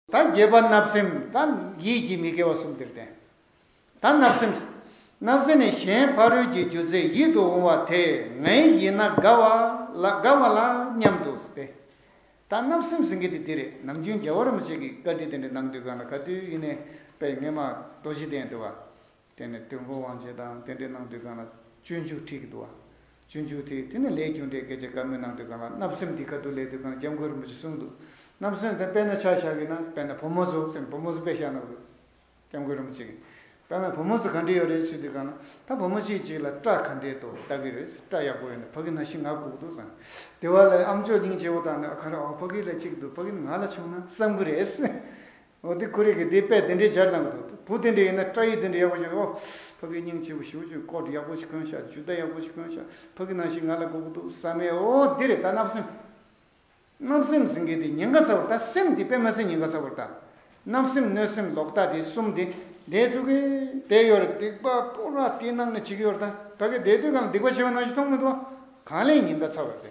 ད་བརྒྱད་པ་བརྣབ་སེམས་ད་ཡིད་ཀྱི་མི་དགེ་བ་གསུམ་དེར་བསྟན། ད་བརྣབ་སེམས། བརྣབ་སེམས་ནི་གཞན་ཕ་རོལ་གྱི་རྒྱུ་རྫས་ཡིད་དུ་འོང་བ་དེ་ངའི་ཡིན་ན་དགའ་བ་ལ་དགའ་བ་ལ་སྙམ་དུ་སྟེ། ད་བརྣབ་སེམས་ཟེར་མཁན་དེ་འདི་རེད་ནམ་རྒྱུན་རྒྱལ་བ་རིན་པོ་ཆེ་གི་བཀའ་དྲིན་དེ་འདྲ་གནང་དུས་གང་ལ་ག་དུས་ཡིན་ནས་དཔལ་ངེད་མ་རྡོ་རྗེ་གདན་དུ་བ། དེ་ནས་དུས་འཁོར་དབང་ཆེན་དང་རྟེན་འབྲེལ་གནང་དུས་གང་ལ་སྤྱོད་འཇུག་ཁྲིད་ཀྱི་འདུག་ཨ། སྤྱོད་འཇུག་ཁྲིད་དེ་ནས་ལས་རྒྱུ་འབྲས་སྐད་ཆ་དཀའ་མོ་གནང་དུས་གང་ལ་བརྣབ་སེམས་འདི་དཀའ་སྡུག་ལས་དུས་གང་ལ་སྐྱབས་མགོན་རིན་པོ་ཆེ་གསུངས་འདུག་བརྣབ་སེམས་དེ་དཔེར་ན་ཆ་བཞག་གིས་ན་དཔེར་ན་བུ་མོ་ཚོ་སེམས་བུ་མོ་ཚོ་དཔེ་བཞག་ན་དགོས། སྐྱབས་མགོན་རིན་པོ་ཆེ་གིས། དཔེར་ན་བུ་མོ་ཚོ་ག་འདྲི་ཡོད་རེད་ཞུས་དུས་གང་ལ་ད་བུ་མོ་གཅིག་གཅིག་ལ་སྐྲ་ག་འདྲི་འདུག་ལྟ་གི་རེད་སྐྲ་ཡག་པོ་ཡོད་འདུག་ཕ་གི་ན་ཤི་ང་ལྐུགས་འདུག་བསམ་གི། དེ་བ་ལས་ཨ་མཆོག་སྙིང་རྗེ་བོ་དང་ནི་ཨ་ཁ་ར་ཨོ་ཕ་གི་ལ་གཅིག་འདུག་ཕ་གི་ནི་ང་ལ་ཆུང་ན་བསམ་གི་རེད། ཨོ་དེ་ཁོ་རེ་གི་དེ་དཔེ་དེ་འདྲའི་སྦྱར་གནང་གི་འདུག་དེ་བུ་དེ་འདྲའི་ཡིན་ན་སྐྲ་ཡིག་དེ་འདྲའི་ཡག་པོ་སྦྱར་ཨོ། ཕ་གི་སྙིང་ཆེ་བུ་ཞི་བུ་ཆུ་ཀོ་ཡག་པོ་ཞིག་གོན་ཤག་ཇུས་བདག་ཡག་པོ་ཞིག་གོན་ཤག་ཕ་གི་ནང་བཞིན་ང་ལ་དགོ་གི་འདུག་ས་མེད་ཨོ་འདི་རེད་ད་བརྣབ་སེམས་བརྣབ་སེམས་ཟིན་གི་འདི་ཉེན་ཁ་ཚ་བར་ད་སེམས་འདི་དཔེ་མ་ཟིན་ཉེན་ཁ་ཚ་བར་ད། བརྣབ་སེམས་གནོད་སེམས་ལོག་ལྟ་དེ་གསུམ་དེ་འདའི་ཚུག་གི་དེ་ཡོད་རེད་སྡིག་པ་པོ་ར་དེ་ནང་ནས་བྱེད་ཀྱི་ཡོད་རེད་ད་ད་གི་འདའི་དུས་གང་ལ་སྡིག་པ་བྱེད་པ་ནང་བཞིན་མཐོང་མི་འདུག་ཨ། གང་ལས་ཉེན་ཁ་ཚ་བར་དེ།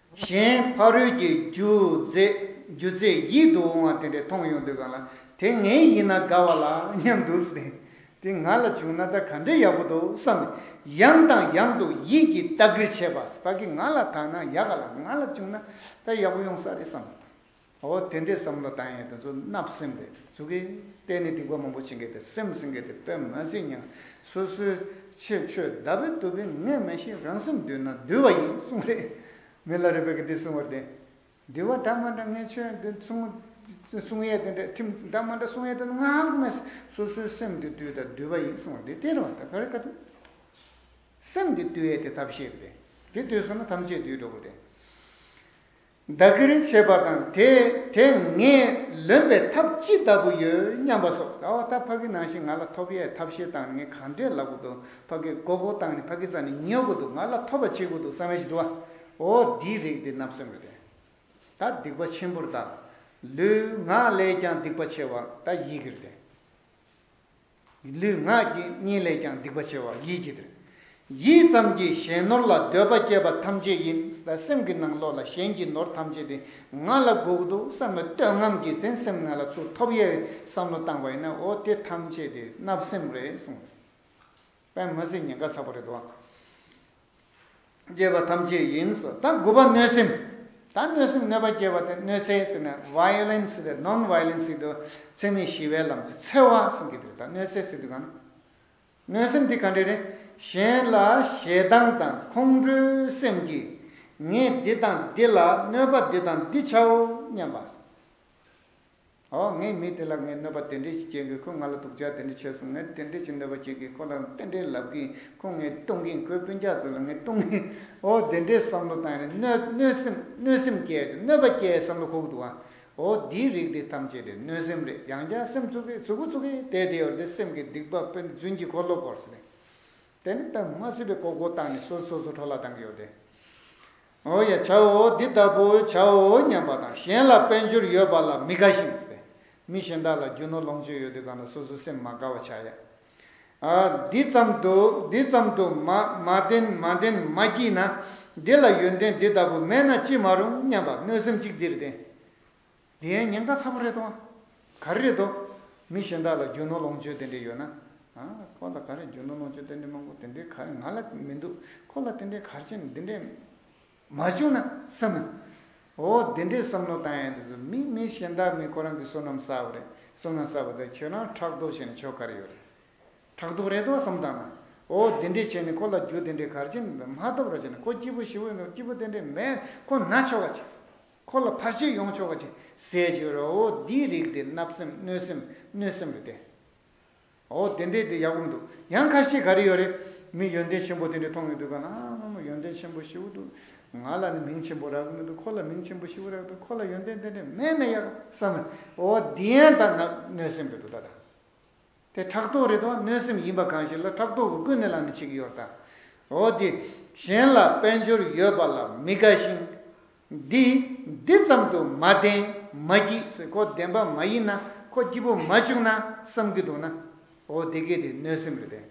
གཞན་ཕ་རོལ་གྱི་རྒྱུ་རྫས་ཡིད་དུ་འོང་བ་དེ་འདྲས་མཐོང་ཡོང་འདོད་ག་ལ། དེ་ངའི་ཡིན་ན་དགའ་བ་ལ་སྙམ་འདུག་སྟེ། དེ་ང་ལ་བྱུང་ན་ད་ག་འདྲའི་ཡག་པོ་འདུག་བསམ་ནས་ཡང་དང་ཡང་དུ་ཡིད་ཀྱིས་བལྟ་ཁུལ་བྱས་པ། ཕ་གི་ང་ལ་དག་ན་ཡག་ག་ལ་ང་ལ་བྱུང་ན་ད་ཡག་པོ་ཡོང་ས་རེད་བསམ། འོ་དེ་འདྲའི་བསམ་བློ་བཏང་ཡས་དེ་ཚོ་བརྣབ་སེམས་རེད་ཚུགས་ཀི། གཏན་ནས་སྡིག་པ་མང་པོ་བྱེད་མཁན་དེ་སེམས་སེང་མཁན་དེ་དཔེ་མ་ཟིན་སྙམ། སོ་སོའི་ཆེད་ཆོས་བདག་པོའི་དུ་བེན་ངས་མེད་བཞིན་རང་སེམས་འདུལ་ན་འདུལ་བ་ཡིན་གསུངས་རེད། མི་ལ་རེ་བས་ཀི་དེ་གསུངས་བར་བརྟེན། འདུལ་བ་འདྲ་མ་འདྲ་ངས་ཆོས་འདི་གསུངས་ཡས་དེ་འདྲ་ཁྲིམས་འདྲ་མ་འདྲ་གསུངས་ཡས་དེ་ངའང་དགོས་མེད་སོ་སོའི་སེམས་འདི་བཏུལ་ད་འདུལ་བ་ཡིན་གསུངས་བར་བརྟེན་དེ་རུ་ད་ག་རེ་ཀ་ཐུབ། སེམས་འདི་བཏུལ་ཡས་དེ་ཐབས་ཤེས་རེད་དེ། དེ་བཏུལ་སོང་ན་ཐམས་ཅད་འདུལ་འགྲོ་བར་བརྟེན། བདག་གིར་བྱེད་པ་དང་དེ་དེ་ངས་ལོན་པའི་ཐབས་ཅི་ལྟ་བུ་ཡོད་སྙམ་པ་སོགས་ད་བར་ད་ཕ་གི་ནང་བཞིན་ང་ལ་ཐོབ་ཡས་ཐབས་ཤེས་སྟངས་ནི་གང་འདྲས་ལབ་གི་འདུག་ཕ་གི་མགོ་སྐོར་སྟངས་ནི་ཕ་གི་རྩ་ནི་ཉོ་གི་འདུག་ང་ལ་ཐོབ་པ་བྱེད་གི་འདུག་བསམ་ཡས་ཞིག་འདུག་བ་འོ་འདིའི་རིགས་འདི་རྣམས་སེམས་ཀྱི་དོན་ད་སྡིག་པ་ཆེན་པོར་ད་ལུས་ངག་ལས་ཀྱང་སྡིག་པ་ཆེ་བ་ད་ཡིད་ཀྱི་རིགས་དེ། ལུས་ངག་ཡིད་གཉིས་ལས་ཀྱང་སྡིག་པ་ཆེ་བ་ཡིད་ཀྱི་དོན། ཡིད་ཙམ་གྱིས་གཞན་ནོར་ལ་འདོད་པ་སྐྱེས་པ་ཐམས་ཅད་ཡིན། སེམས་ཀྱི་ནང་ལོགས་ལ་གཞན་གྱི་ནོར་ཐམས་ཅད་དེ་ང་ལ་དགོས་འདུག་བསམ་ནས་བསྟོད་རྔམ་གྱིས་འཛིན་སེམས་ང་ལ་ཚུར་ཐོབ་ཡའི་བསམ་བློ་བཏང་བ་ཡིན་ན་འོ་དེ་ཐམས་ཅད་དེ་བརྣབ་སེམས་རེད་གསུངས། པདྨ་སེང་ངེ་འགའ་ཚ་པོ་རེད་འདུག། སྐྱེས་པ་ཐམས་ཅད་ཡིན། ད་དགུ་པ་གནོད་སེམས། ད་གནོད་སེམས་གནོད་པ་སྐྱེས་པ་དེ་གནོད་འཚེ་ཟེར་ན violence དེ non violence ཞིག་ཏུ་འཚེ་མེད་ཞི་བའི་ལམ་གྱི་འཚེ་བ་ཟེར་གྱི་འདུག་ད་གནོད་འཚེ་ཟེར་དུས་གང། གནོད་སེམས་དེ་ག་འདྲས་རེད། གཞན་ལ་ཞེ་སྡང་དང་ཁོང་ཁྲོའི་སེམས་ཀྱིས་ངས་འདི་དང་འདི་ལ་གནོད་པ་འདི་དང་འདི་བྱའོ་སྙམ་པ། ཨོ་ངའི་མི་དེ་ལ་ངས་གནོད་པ་དེ་འདྲས་ཀྱིས་བྱས་གིས་ཁོས་ང་ལ་སྡུག་ཅག་དེ་འདྲས་བྱས་སོང་ངས་དེ་འདྲས་ཀྱིས་གནོད་པ་བྱས་གིས་ཁོ་ལ་དཔེ་འདྲས་ལབ་གིས་ཁོ་ངའི་སྟོང་གིན་ཁོའི་སྤུན་ཅག་ཚོ་ལ་ངས་སྟོང་གིན་ཨོ་དེ་འདྲས་བསམ་བློ་བཏང་ནས་གནོད་གནོད་སེམས་གནོད་སེམས་སྐྱེས་ཀྱི་གནོད་པ་སྐྱེས་བསམ་བློ་ཁོག་འདུག་ཨ་ཨོ་འདིའི་རིགས་འདི་ཐམས་ཅད་རེད་གནོད་སེམས་རེད་ཡང་བསྐྱར་སེམས་ཚུགས་གིས་ཚུགས་ཚུགས་གིས་དེ་དེའི་འོག་འདི་སེམས་ཀྱི་སྡིག་པ་དཔེར་རྫུན་གྱི་འཁོར་ལོ་བསྐོར་ཟིན་པས་དེ་ནི་དཔེ་མ་སྲིད་པའི་ཀོ་ཀོ་བཏང་ནས་སོ་སོ་སོ་སོ་འཕྲོ་བརླག་བཏང་གི་ཡོད་དེ། འོ་ཡ་བྱའོ་འདི་ལྟ་བུ་བྱའོ་སྙམ་པ་དང་གཞན་ལ་དཔལ་འབྱོར་ཡོད་པ་ལ་མི་དགའ་ཞིང། མི་གཞན་དག་ལ་རྒྱུ་ནོར་ལོངས་སྤྱོད་ཡོད་དུས་གང་ལ་སོ་སོའི་སེམས་མ་དགའ་བ་བྱ་ཡ། འདི་ཙམ་དུ་འདི་ཙམ་དུ་མ་མ་བདེན་མ་བདེན་མ་སྐྱིད་ན། འདི་ལ་ཡོན་ཏན་འདི་ལྟ་བུ་མེད་ན་ཅི་མ་རུང་སྙམ་པ་གནོད་སེམས་གཅིག་འདིར་བདེན། འདི་ཡན་ཉེན་ཁ་ཚ་པོ་རེད་དོ། ག་རེ་རེད་དོ། མི་གཞན་དག་ལ་རྒྱུ་ནོར་ལོངས་སྤྱོད་དེ་འདྲས་ཡོད་ན། ཁོ་ལ་ག་རེ་རྒྱུ་ནོར་ལོངས་སྤྱོད་དེ་འདྲས་མང་པོ་དེ་འདྲས་ག་རེ་ང་ལ་མི་འདུག་ཁོ་ལ་དེ་འདྲས་གར་ཆེན་འདི་འདྲས་མ་བྱུང་ན་བསམ་མོ། འོ་འདི་འདྲས་བསམ་བློ་བཏང་ཡས་འདི་ཚོ་མི་མི་གཞན་དག་མི་ཁོ་རང་གི་བསོད་ནམས་བསགས་པ་རེད་བསོད་ནམས་བསགས་པ་དེ་ཁྱོད་རང་ཕྲག་དོག་བྱས་ནས་ཆོ་ག་རེ་ཡོད་རེད། ཕྲག་དོག་རེད་དོ་བསམ་བཏང་ན། འོ་འདི་འདྲས་བྱས་ནས་ཁོ་ལ་རྒྱུ་དེ་འདྲས་གར་ཆེན་མ་ཐོབ་ར་བྱས་ན་ཁོ་སྐྱིད་པོ་ཞི་བོ་ཡིན་ནོ་སྐྱིད་པོ་དེ་འདྲས་མེད་ཁོ་ན་ཆོ་ག་བྱས། འཁོར་ལོ་ཕར་ཕྱིན་ཡོངས་ཕྱོགས་ཀྱི་ཟས་བཅུད་རོ། འོ་འདིའི་རིགས་འདི་བརྣབ་སེམས་གནོད་སེམས་གནོད་སེམས་རེད་དེ། འོ་དེ་འདྲའི་དེ་ཡག་པོ་མི་འདུག་ཡང་ཁ་ཤས་ག་རེ་ཡོད་རེད། མི་ཡོན་ཏན་ཆེན་པོ་དེ་འདྲ་མཐོང་ཡོད་འདུག་ག་ན་མ་མོ་ཡོན་ཏན་ཆེན་པོ་ཞེ་བོ་འདུག་ང་ལ་ནི་མིང་ཆེན་པོ་རག་གི་མི་འདུག་ཁོ་ལ་མིང་ཆེན་པོ་ཞེ་བོ་རག་འདུག་ཁོ་ལ་ཡོན་ཏན་དེ་འདྲ་མེད་ན་ཡག་བསམ། འོ་འདི་ཡང་ད་གནོད་སེམས་རེད་འདུག་ད་ད། དེ་ཕྲག་དོག་རེད་དོ་གནོད་སེམས་ཡིན་པ་གང་ཞིག་ལ་ཕྲག་དོག་གི་ཀུན་ནས་ལངས་ནས་ཆིག་གཡོར་ལྟ་འོ་དེ་གཞན་ལ་དཔལ་འབྱོར་ཡོད་པ་ལ་མི་དགའ་ཞིང། འདི་འདི་ཙམ་དུ་མ་བདེན་མ་སྐྱིད་ཟེར་ཁོ་བདེན་པ་མ་ཡིན་ན་ཁོ་སྐྱིད་པོ་མ་བྱུང་ན་བསམ་གྱི་འདུག་ན་འོ་དེ་གལ་ཏེ་གནོད་སེམས་རེད་པས།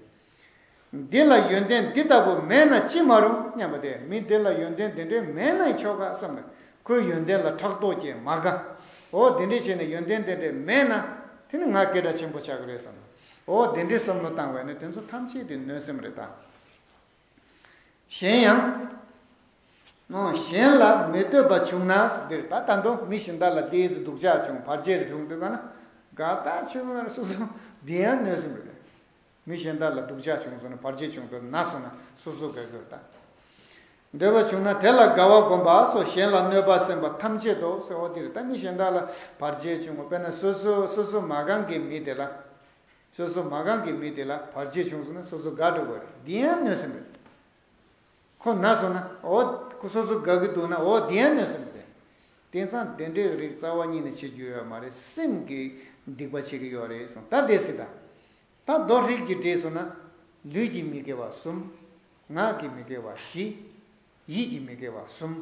འདི་ལ་ཡོན་ཏན་འདི་ལྟ་བུ་མེད་ན་ཅི་མ་རུང་སྙམ་པ་དེ་མི་དེ་ལ་ཡོན་ཏན་དེ་འདྲའི་མེད་ན་ཆོ་ག་བསམ་ལ་ཁོའི་ཡོན་ཏན་ལ་ཕྲག་དོག་སྐྱེས་མ་དགའ། འོ་དེ་འདྲས་བྱས་ནས་ཡོན་ཏན་དེ་འདྲས་མེད་ན་དེ་ནི་ང་སྐད་སྒྲ་ཆེན་པོ་ཆགས་ཀྱི་རེད་བསམ་ལ་འོ་དེ་འདྲས་བསམ་བློ་བཏང་བས་ན་དེ་ཚོ་ཐམས་ཅད་དེ་གནོད་སེམས་རེད་ད། གཞན་ཡང། གཞན་ལ་མི་བསྟོད་པ་བྱུང་ན་འདིར་ད་ལྟ་འདུག་མི་ཞིག་མདའ་ལ་དེའི་སུ་སྡུག་ཅག་བྱུང་བར་རྗེས་རེ་བྱུང་འདུག་ག་ན་དགའ་ད་ཆོས་ངར་སུ་སོང་འདི་ཡང་གནོད་སེམས་རེད། མི་གཞན་དག་ལ་སྡུག་ཅག་བྱུང་སོང་ན་བར་ཆད་བྱུང་དུ་ན་སོང་ན་སོ་སོ་དགའ་གུས་དང། འདོད་པ་བྱུང་ན་དེ་ལ་དགའ་བ་བསྒོམ་པ་སོགས་གཞན་ལ་གནོད་པ་སེམས་པ་ཐམས་ཅད་དོགས་སེ་འོ་འདིར་ད་མི་གཞན་དག་ལ་བར་ཆད་བྱུང་ངོ་དཔེར་ན་སོ་སོ་སོ་སོ་མ་གང་གི་མི་དེ་ལ་སོ་སོ་མ་གང་གི་མི་དེ་ལ་བར་ཆད་བྱུང་སོང་ན་སོ་སོ་དགའ་འགྲོ་དགོས་རེད་འདི་ཡང་གནོད་སེམས་རེད། ཁོ་ན་སོང་ན་འོ་སོ་སོ་དགའ་གི་འདུག་ན་འོ་འདི་ཡང་གནོད་སེམས་རེད། དེང་སང་བདེ་འགྲོའི་རིགས་རྩ་བ་ཉིད་ནས་བྱེད་རྒྱུ་ཡོད་མ་རེད་སེམས་ཀྱི་སྡིག་པ་བྱེད་ཀྱི་ཡོད་རེད་གསུངས་ད་བདེ་སི་དང། དང་རྡོར་དྲིལ་གྱི་སྒྲས་བཟུང་ན། ལུས་ཀྱི་མི་དགེ་བ་གསུམ། ངག་གི་མི་དགེ་བ་བཞི། ཡིད་ཀྱི་མི་དགེ་བ་གསུམ།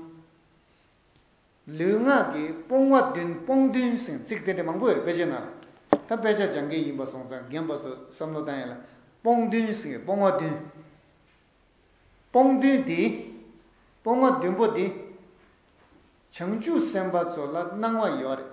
ལུས་ངག་གི་སྤོང་བ་བདུན་སྤོང་བདུན་ཟིན་ཚིག་དེ་འདྲ་མང་པོ་ཡོད་རེད་དཔེ་ཆའི་ནང་ལ། ད་དཔེ་ཆ་སྦྱང་མཁན་ཡིན་པ་སོང་ཙང་རྒན་པ་ཚོས་བསམ་བློ་བཏང་ཡིན་ལ། སྤོང་བདུན་ཟིན་སྤོང་བ་བདུན། སྤོང་བདུན་འདི། སྤོང་བ་བདུན་པོ་འདི། བྱང་ཆུབ་སེམས་དཔའ་ཚོ་ལ་སྣང་བ་ཡོད་རེད།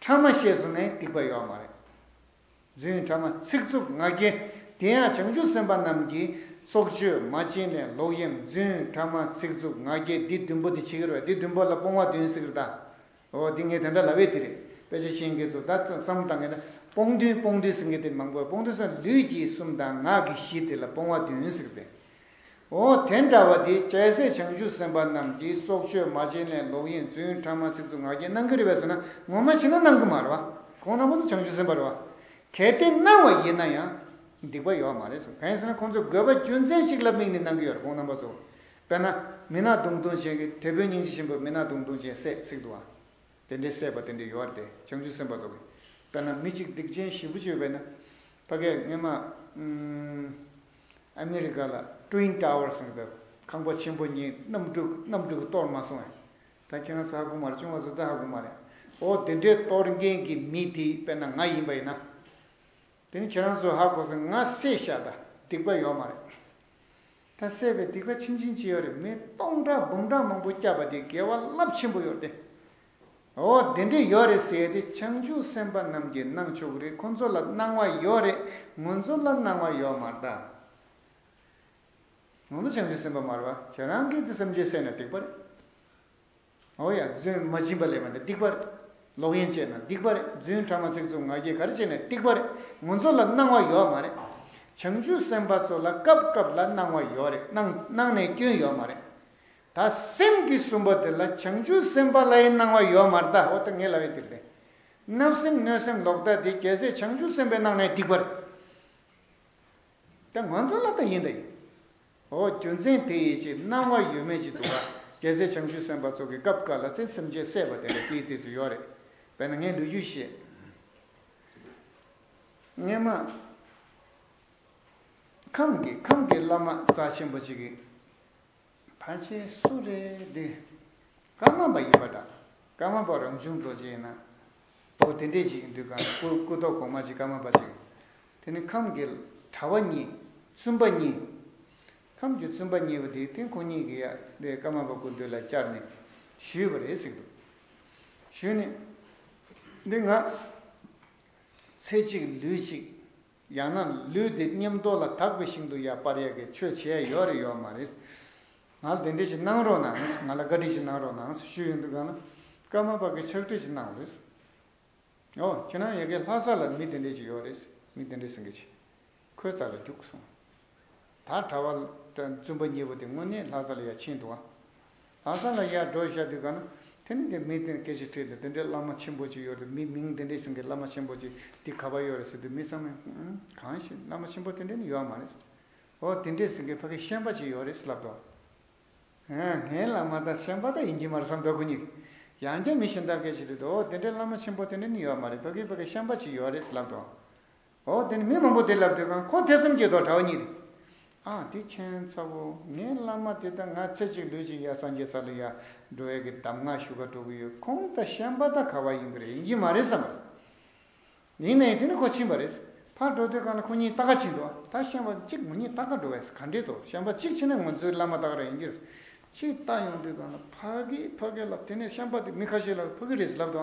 ཕྲ་མ་ཤེས་སུ་ནི་སྡིག་པ་ཡོད་མ་རེད། རྫུན་ཕྲ་མ་ཚིག་རྩུབ་ང་རྒྱལ་དེ་ཡང་བྱང་ཆུབ་སེམས་དཔའ་རྣམས་ཀྱི་སྲོག་གཅོད་མ་བྱིན་ལེན་ལོག་གཡེམ་རྫུན་ཕྲ་མ་ཚིག་རྩུབ་ང་རྒྱལ་འདི་བདུན་པོ་དེ་ཆི་ཁེར་བ་འདི་བདུན་པོ་ལ་སྤོང་བ་བདུན་སིག་རི་ད་ཨོ་འདི་ངས་དེ་འདྲ་ལབ་བས་དེ་རེད་དཔེ་ཆ་ཤེས་མཁན་ཚོ་ད་བསམ་བཏང་གིན་ན་སྤོང་བདུན་སྤོང་བདུན་སིག་མཁན་དེ་མང་པོ་བས་སྤོང་བདུན་སོགས་ལུས་ཀྱི་གསུམ་དང་ངག་གི་བཞི་དེ་ལ་སྤོང་བ་བདུན་སིག་རི་དེ། འོ་དེ་འདྲ་བ་དེ་རྒྱལ་སྲས་བྱང་ཆུབ་སེམས་དཔའ་རྣམས་ཀྱིས་སྲོག་གཅོད་མ་བྱིན་ལེན་ལོག་གཡེང་རྫུན་ཕྲ་མ་ཚིག་རྩུབ་ངག་འཁྱལ་གནང་གི་རེད་བས་སོ་ན་ངོ་མ་ཕྱིན་ན་གནང་གི་མ་རེད་བ། ཁོང་རྣམ་པ་ཚོ་བྱང་ཆུབ་སེམས་དཔའ་རེད་བ། གལ་ཏེ་གནང་བ་ཡིན་ན་ཡང་སྡིག་པ་ཡོད་མ་རེད་སོ་བས་སོ་ན་ཁོང་ཚོས་དགོས་པ་རྒྱུ་མཚན་གཅིག་ལ་དམིགས་ནས་གནང་གི་ཡོད་རེད་ཁོང་རྣམ་པ་ཚོ། དཔེར་ན་མི་ནག་དུང་དུང་ཅན་གྱི་དེད་དཔོན་སྙིང་རྗེ་ཆེན་པོས་མི་ནག་དུང་དུང་ཅན་བསད་བསྲེགས་འདུག་བ། དེ་འདྲའི་བསད་པ་དེ་འདྲའི་ཡོད་རེད་བྱང་ཆུབ་སེམས་དཔའ་ཚོ། དཔེར་ན་མི་གཅིག་སྡིག་ཅན་བཞི་པོ་གཅོད་པས་ན་ཕ་སྐད་སྔས་མ། ཨ་མི་རི་ཀ་ལ Twin Towers ཟེར་བའི་ཁང་པ་ཆེན་པོ་གཉིས་གནམ་གྲུས་གནམ་གྲུས་གཏོར་མ་སོང་ཡང། ད་ཁྱེད་རང་ཚོ་ཧ་གོ་མ་རེད་ཅུང་ང་ཚོ་ད་ཧ་གོ་མ་རེད། འོ་དེ་འདྲའི་གཏོར་མཁན་གྱི་མི་དེ་དཔེར་ན་ང་ཡིན་པ་ཡིན་ན། དེ་ནི་ཁྱེད་རང་ཚོས་ཧ་གོ་ཚེ་ང་བསད་ཤག་ད་སྡིག་པ་ཡོད་མ་རེད། ད་བསད་པའི་སྡིག་པ་ཕྱིན་ཕྱིན་ཅི་ཡོད་རེད་མི་སྟོང་ཕྲག་འབུམ་ཕྲག་མང་པོ་བསྐྱབས་པ་དེ་དགེ་བ་རླབས་ཆེན་པོ་ཡོད་དེ། འོ་དེ་འདྲས་ཡོད་རེད་ཟེར་ཏེ་བྱང་ཆུབ་སེམས་དཔའ་རྣམས་ཀྱིས་གནང་ཆོག་གི་རེད་ཁོང་ཚོ་ལ་གནང་བ་ཡོད་རེད་ངོ་ཚོ་ལ་གནང་བ་ཡོད་མ་རེད་དཱ། ང་ཚོ་བྱང་ཆུབ་སེམས་དཔའ་མ་རེད་བ་ཁྱེད་རང་གིས་དེ་སེམས་ཅན་བསད་ན་སྡིག་པ་རེད། འོ་ཡ་རྫུན་མ་སྦྱིན་པ་ལས་པ་འདི་སྡིག་པ་རེད། ལོག་གཡེམ་སྤྱད་ན་སྡིག་པ་རེད་རྫུན་ཕྲ་མ་ཚིག་རྩུབ་ང་རྒྱལ་ག་རེ་སྤྱད་ནས་སྡིག་པ་རེད་ངོ་ཚོ་ལ་གནང་བ་ཡོད་མ་རེད། བྱང་ཆུབ་སེམས་དཔའ་ཚོ་ལ་སྐབས་སྐབས་ལ་གནང་བ་ཡོད་རེད་གནང་ནས་སྐྱོན་ཡོད་མ་རེད། ད་སེམས་ཀྱི་གསུམ་པོ་དེ་ལ་བྱང་ཆུབ་སེམས་དཔའ་ལྷའི་སྣང་བ་ཡོད་མར་ལྟ་འོ་ད་ངས་ལ་བའི་དེར་བསྟན། བརྣབ་སེམས་གནོད་སེམས་ལོག་ལྟ་དེ་རྒྱལ་སྲས་བྱང་ཆུབ་སེམས་དཔའི་སྣང་ནས་སྡིག་པར། དེ་ང་ཚོ་ལ་ད་ཡིན་ད་ཡིན། འོ་རྒྱུ་མཚན་དེ་ཡིན་གྱིས་སྣང་བ་ཡོད་མེད་ཅིག་འདུག་ག་རྒྱལ་སྲས་བྱང་ཆུབ་སེམས་དཔའ་ཚོགས་ཀྱི་སྐབས་དཀར་ལ་ཚེ་སེམས་ཅན་སད་པ་དེ་ལ་དེའི་དུས་སུ་ཡོད་རེད་བས་ན་ངས་ལུས་རྒྱུད་བཤད། ངས་མ། ཁམས་ཀྱི་ཁམས་ཀྱི་བླ་མ་རྩ་ཆེན་པོ་ཅིག་གིས། བར་ཆད་སུ་རེད་འདི། ཀརྨ་པ་ཡིན་པ་འདྲ། ཀརྨ་པ་རང་བྱུང་རྡོ་རྗེ་ཡིན་ན། འོ་དེ་འདྲས་ཅིག་འདུག་གམ་སྐུ་སྐུ་ཐོག་གོང་མ་ཅིག་ཀརྨ་པ་ཅིག། དེ་ནི་ཁམས་ཀྱི་གྲྭ་བ་གཉིས་བཙུན་པ་གཉིས། ཁམས་ཀྱི་བཙུན་པ་གཉིས་པོ་དེའི་སྟེང་ཁོང་གཉིས་ཀྱིས་ཡ་དེ་ཀརྨ་པ་སྐུ་མདུན་ལ་བཅར་ནས་ཞུས་པ་རེད་ཟེར་འདུག་ཞུས་ནས། འདི་ང། ཚེ་གཅིག་ལུས་གཅིག། ཡང་ན་ལུས་འདི་སྙེམས་རྟོག་ལ་དག་པའི་ཞིང་དུ་ཡར་སྤར་ཡག་གི་ཆོས་བྱས་ཡོད་རེད་ཡོད་མ་རེད། ང་ལ་དེ་འདྲས་ཞིག་གནང་རོགས་གནང་ང་ལ་བཀའ་དྲིན་ཞིག་གནང་རོགས་གནང་ཞུས་ཡོད་འདུག་ག་ན་ཀརྨ་པ་གིས་ཕྱག་བྲིས་ཞིག་གནང་བ་རེད། ཨོ་ཁྱོད་རང་ཡི་གེ་ལྷ་ས་ལ་མི་དེ་འདྲས་ཞིག་ཡོད་རེད་མི་དེ་འདྲས་ཟིན་གྱི་ཆེ་ཁོའི་རྩ་ལ་རྒྱུགས་སོང། ད་གྲྭ་བ། བཙུན་པ་གཉིས་པོ་དེ་དངོས་གནས་ལྷ་ས་ལ་ཡར་ཕྱིན་འདུག་ཨ། ལྷ་ས་ལ་ཡར་འགྲོ་ཤར་དུས་ག་ན་དེ་ནི་དེ་མི་དེ་སྐད་ཆ་ཁྲིད་འདུག་དེ་འདྲའི་བླ་མ་ཆེན་པོ་ཅིག་ཡོད་རེད་མི་མིང་དེ་འདྲས་ཟིན་གི་བླ་མ་ཆེན་པོ་ཅིག་འདི་ག་པ་ཡོད་རེད་ཟེར་དུས་མི་ཚང་མས་ཧུམ་གང་ཞིག་བླ་མ་ཆེན་པོ་དེ་འདྲས་ནི་ཡོད་མ་རེད། ཨོ་དེ་འདྲས་ཟིན་གི་ཕ་གི་ཤན་པ་ཅིག་ཡོད་རེད་ལབ་འདུག་ཨ། ཧ་ངའི་བླ་མ་དང་ཤན་པ་དག་ཡིན་གྱི་མ་རེད་བསམ་འདུག་གུ་ཉིད་ཀྱིས་ཡང་བསྐྱར་མི་གཞན་དག་སྐད་ཆ་ཁྲིད་འདུག་ཨོ་དེ་འདྲའི་བླ་མ་ཆེན་པོ་དེ་འདྲས་ནི་ཡོད་མ་རེད་ཕ་གི་ཕ་གི་ཤན་པ་ཅིག་ཡོད་རེད་ལབ་འདུག་འོ་དེ་ནི་མི་མང་པོ་དེ་ལབ་དུས་ཁང་ཁོག་ཐེ་ཚོམ་གྱི་དོག་གྲྭ་བ་གཉིས་རེད། ཨ་དེ་མཁྱེན་ཚ་བོ་ངའི་བླ་མ་དེ་ལྟ་ང་ཚེ་གཅིག་ལུས་གཅིག་ཡ་སངས་རྒྱས་ས་ལུ་ཡ་འགྲོ་ཡ་གི་གདམས་ངག་ཞུ་ཁ་གྲོ་གི་ཡོད་ཁོང་ད་ཤན་པ་ད་ཁ་བ་ཡིན་གི་རེད་ཡིན་གྱི་མ་རེད་བསམ་པ་རེད། ཡིན་ནའི་དེ་ནི་ཁོ་ཕྱིན་པ་རེད། ཕར་འགྲོ་དུས་ཁང་ལ་ཁོ་གཉིས་ད་ག་ཕྱིན་འདུག་ད་ཤན་པ་གཅིག་ངོ་གཉིས་ད་ག་འགྲོ་བས་ག་འགྲིག་འདུག་ཤན་པ་གཅིག་ཕྱིན་ན་ངོ་ཚོའི་བླ་མ་ད་ག་ར་ཡིན་གྱི་རེད་ཅེས་ལྟ་ཡོང་དུས་ཁང་ལ་ཕ་གིས་ཕ་གི་ལ་དེ་ནས་ཤན་པ་དེ་མི་ཁ་ཤས་ལ་ཕུ་གི་རེད་ལབ་དུ་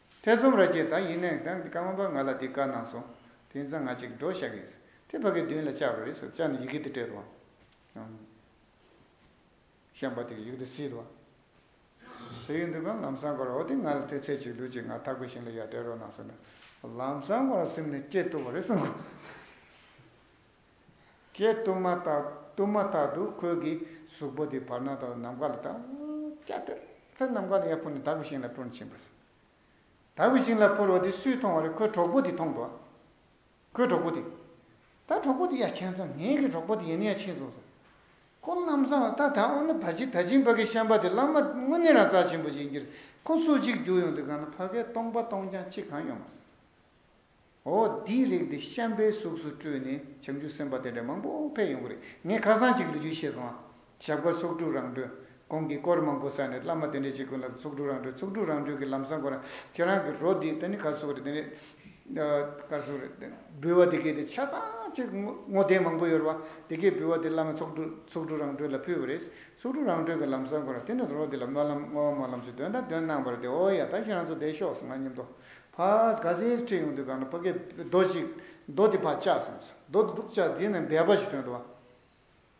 ཐེ་ཚོམ་ར་ཅན་དང་ཡིན་ནའི་འདི་ཀ་མ་པ་ང་ལ་འདི་བཀའ་གནང་སོང་དེ་ཚང་ང་ཅིག་འགྲོ་བཞག་གིས་དེ་ཕ་གི་མདུན་ལ་བཅར་བ་རེད་སོ་བཅར་ནས་ཡི་གེ་དེ་སྤྲད་དོ་ཤངས་པ་དེ་ཡིག་དེ་བསྲིས་ཏོ་ཟེར་གྱི་འདུག་གམ་ལམ་སང་གོ་ར་འོ་དེ་ང་ལ་ཐེ་ཚད་ཅིག་ལུས་ཅིག་ང་ཐག་གོ་ཞིང་ལ་ཡར་སྤྲད་རོགས་གནང་སོང་ལམ་སང་གོ་ར་སེམས་ནས་སྐྱེ་ཐུབ་བ་རེད་སོང་གོ། ཀྱེ་གཏུམ་མ་དག་གཏུམ་མ་དག་ཏུ་ཁོལ་གྱི་གཟུགས་པོ་དེ་བར་སྣང་དང་ནམ་མཁའ་ལ་དག། ཀྱེ་དེ་ལྟར་ནམ་མཁའ་ལ་ཡང་འཕུར་ནས་དག་པའི་ཞིང་ལ་འཕུར་ནས་ཕྱིན་པར་བྱེད། དག་པའི་ཞིང་ལ་འཕུར་བ་དེ་སུས་མཐོང་བ་ལ་ཁོའི་གྲོགས་པོ་དེས་མཐོང་དོ། ཁོའི་གྲོགས་པོ་དེས། ད་གྲོགས་པོ་དེ་ཡ་མཁྱེན་ཙམ་ངེད་ཀྱི་གྲོགས་པོ་དེ་ཡིན་ན་ཡང་ཕྱིན་སོང་ཟེར། ཁོ་གནམ་བཟང་ལ་ད་དག་འོ་ན་ད་ཅི་ད་ཅི་འབའ་ཀྱི་ཤམ་པ་དེ་བླ་མ་དངོས་གནས་རང་རྩལ་ཆེན་པོ་ཞིག་ཡིན་གྱིས་ཁོ་ཚོ་གཅིག་རྒྱུག་ཡོང་དུས་གང་ན་བྷ་གའི་སྟོང་པ་སྟོང་རྐྱང་གཅིག་གང་ཡོད་མ་ཟད། འོ་འདིའི་རིགས་འདི་ཤམ་པའི་གཟུགས་སུ་སྤྲུལ་ནས་བྱང་ཆུབ་སེམས་དཔའ་དེ་འདྲ་མང་པོ་ཕེབས་ཡོང་གི་རེད་ངས་ཁ་སང་གཅིག་ལུས་རྒྱུ་ཤེས་སོང་ཨ། ཞབས་དཀར་ཚོགས་དྲུག་རང་གྲོལ། གོང་གི་སྐོར་མང་པོ་བསགས་ནས་བླ་མ་དེ་འདྲ་གཅིག་ཀུན་ལ་ཚོགས་དྲུག་རང་གྲོལ་ཚོགས་དྲུག་རང་གྲོལ་གྱི་ལམ་བཟང་ཁོ་རང་ཁྱེད་རང་གི་རོ་འདི་ད་ནི་གར་སོགས་རེད་དེ་འདྲས་གར་སོགས་རེད་དེ་འབུལ་བ་དེ་གས་དེ་ཆ་ཚང་གཅིག་བསྔོ་རྟེན་མང་པོ་ཡོད་རེད་བ་དེ་གས་འབུལ་བ་དེ་བླ་མ་ཚོགས་དྲུག་ཚོགས་དྲུག་རང་གྲོལ་ལ་ཕུལ་བ་རེད་ཚོགས་དྲུག་རང་གྲོལ་གྱི་ལམ་བཟང་ཁོ་རང་དེ་ནས་རོ་འདི་ལ་སྨོན་ལམ་བསྔོ་བ་སྨོན་ལམ་ཞུ་དོན་དང་དོན་གནང་བ་རེད་དེ་འོ་ཡ་ད་ཁྱེད་རང་ཚོ་བསྡད་ཤོག་ང་སྙམ་དུ་ཕ་ག་ཟེ་ཡིས་ཁྲིད་ཡོང་དུས་གང་ན་ཕ་གས་རྡོ་གཅིག་རྡོ་དེ་ཕ་བཅག་སོང་ཟེར་རྡོ་དེ་འདུག་བཅག་དེ་ནས་སྦལ་པ་ཞིག་ཐོན་འདུག་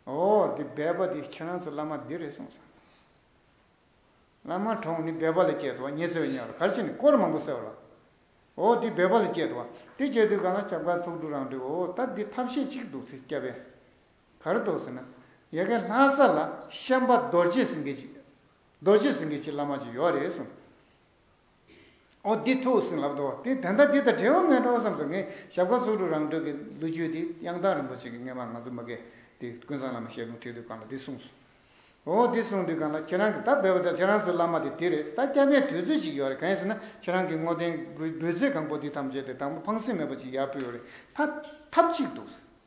ཨོ་དེ་སྦལ་པ་དེ་ཁྱེད་རང་ཚོ་བླ་མ་འདི་རེད་གསུངས་སོང། བླ་མ་གྲོངས་ནི་སྦལ་པ་ལ་སྐྱེས་འདུག་ཉེ་ཚེ་བའི་ཉིན་ལ་གར་ཕྱིན་ནས་སྐོར་མང་པོ་བསལ་བ་ལ། ཨོ་དེ་སྦལ་པ་ལ་སྐྱེས་འདུག་དེ་སྐྱེས་དུས་གང་ན་སྐྱབས་མཁར་ཚོགས་དྲུག་རང་འདུག་ཨོ་ད་འདི་ཐབས་ཤེས་གཅིག་འདུག་ཚེ་སྐྱབས་ཡ། གར་འདུག་ཟེར་ན། ཡ་གའི་ལྷ་ས་ལ་ཤན་པ་རྡོ་རྗེ་སེང་གེ་རྡོ་རྗེ་སེང་གེ་ཆེ་བླ་མ་ཅིག་ཡོད་རེད་གསུངས། ཨོ་འདི་ཐུགས་ཟིན་ལབ་འདུག་དེ་དོན་དག་འདི་དང་འབྲེལ་བ་མེད་འགྲོ་བསམས་སོ་ངས་ཞབས་ཁ་ཚུགས་དྲུག་རང་གྲོལ་གྱི་ལུས་རྒྱུད་འདི་དབྱངས་རྟ་རིན་པོ་ཆེ་གི་སྔས་མར་ང་ཚོ་མ་གས་ཏེ་ཀུན་བཟང་བླ་མ་ཞལ་ལུང་ཁྲིད་དུས་གང་ལ་འདི་གསུངས་སོ། ཨོ་འདི་གསུངས་དུས་གང་ལ་ཁྱེད་རང་གི་ད་བོད་པ་དང་ཁྱེད་རང་ཚོའི་བླ་མ་དེ་འདི་རེད་ད་སྐྱ་པའི་དུས་ཚོད་ཅིག་ཡོད་རེད་གང་ཡིན་ཟེར་ན་ཁྱེད་རང་གི་བསྔོ་རྟེན་འབུལ་ཚད་གང་པོ་འདི་ཐམས་ཅད་དེ་དང་པོ་ཕངས་སེམས་མེད་པ་ཅིག་ཡར་ཕུལ་བ་རེད་ད་ཐབས་ཅིག་འདུག་ཟེར།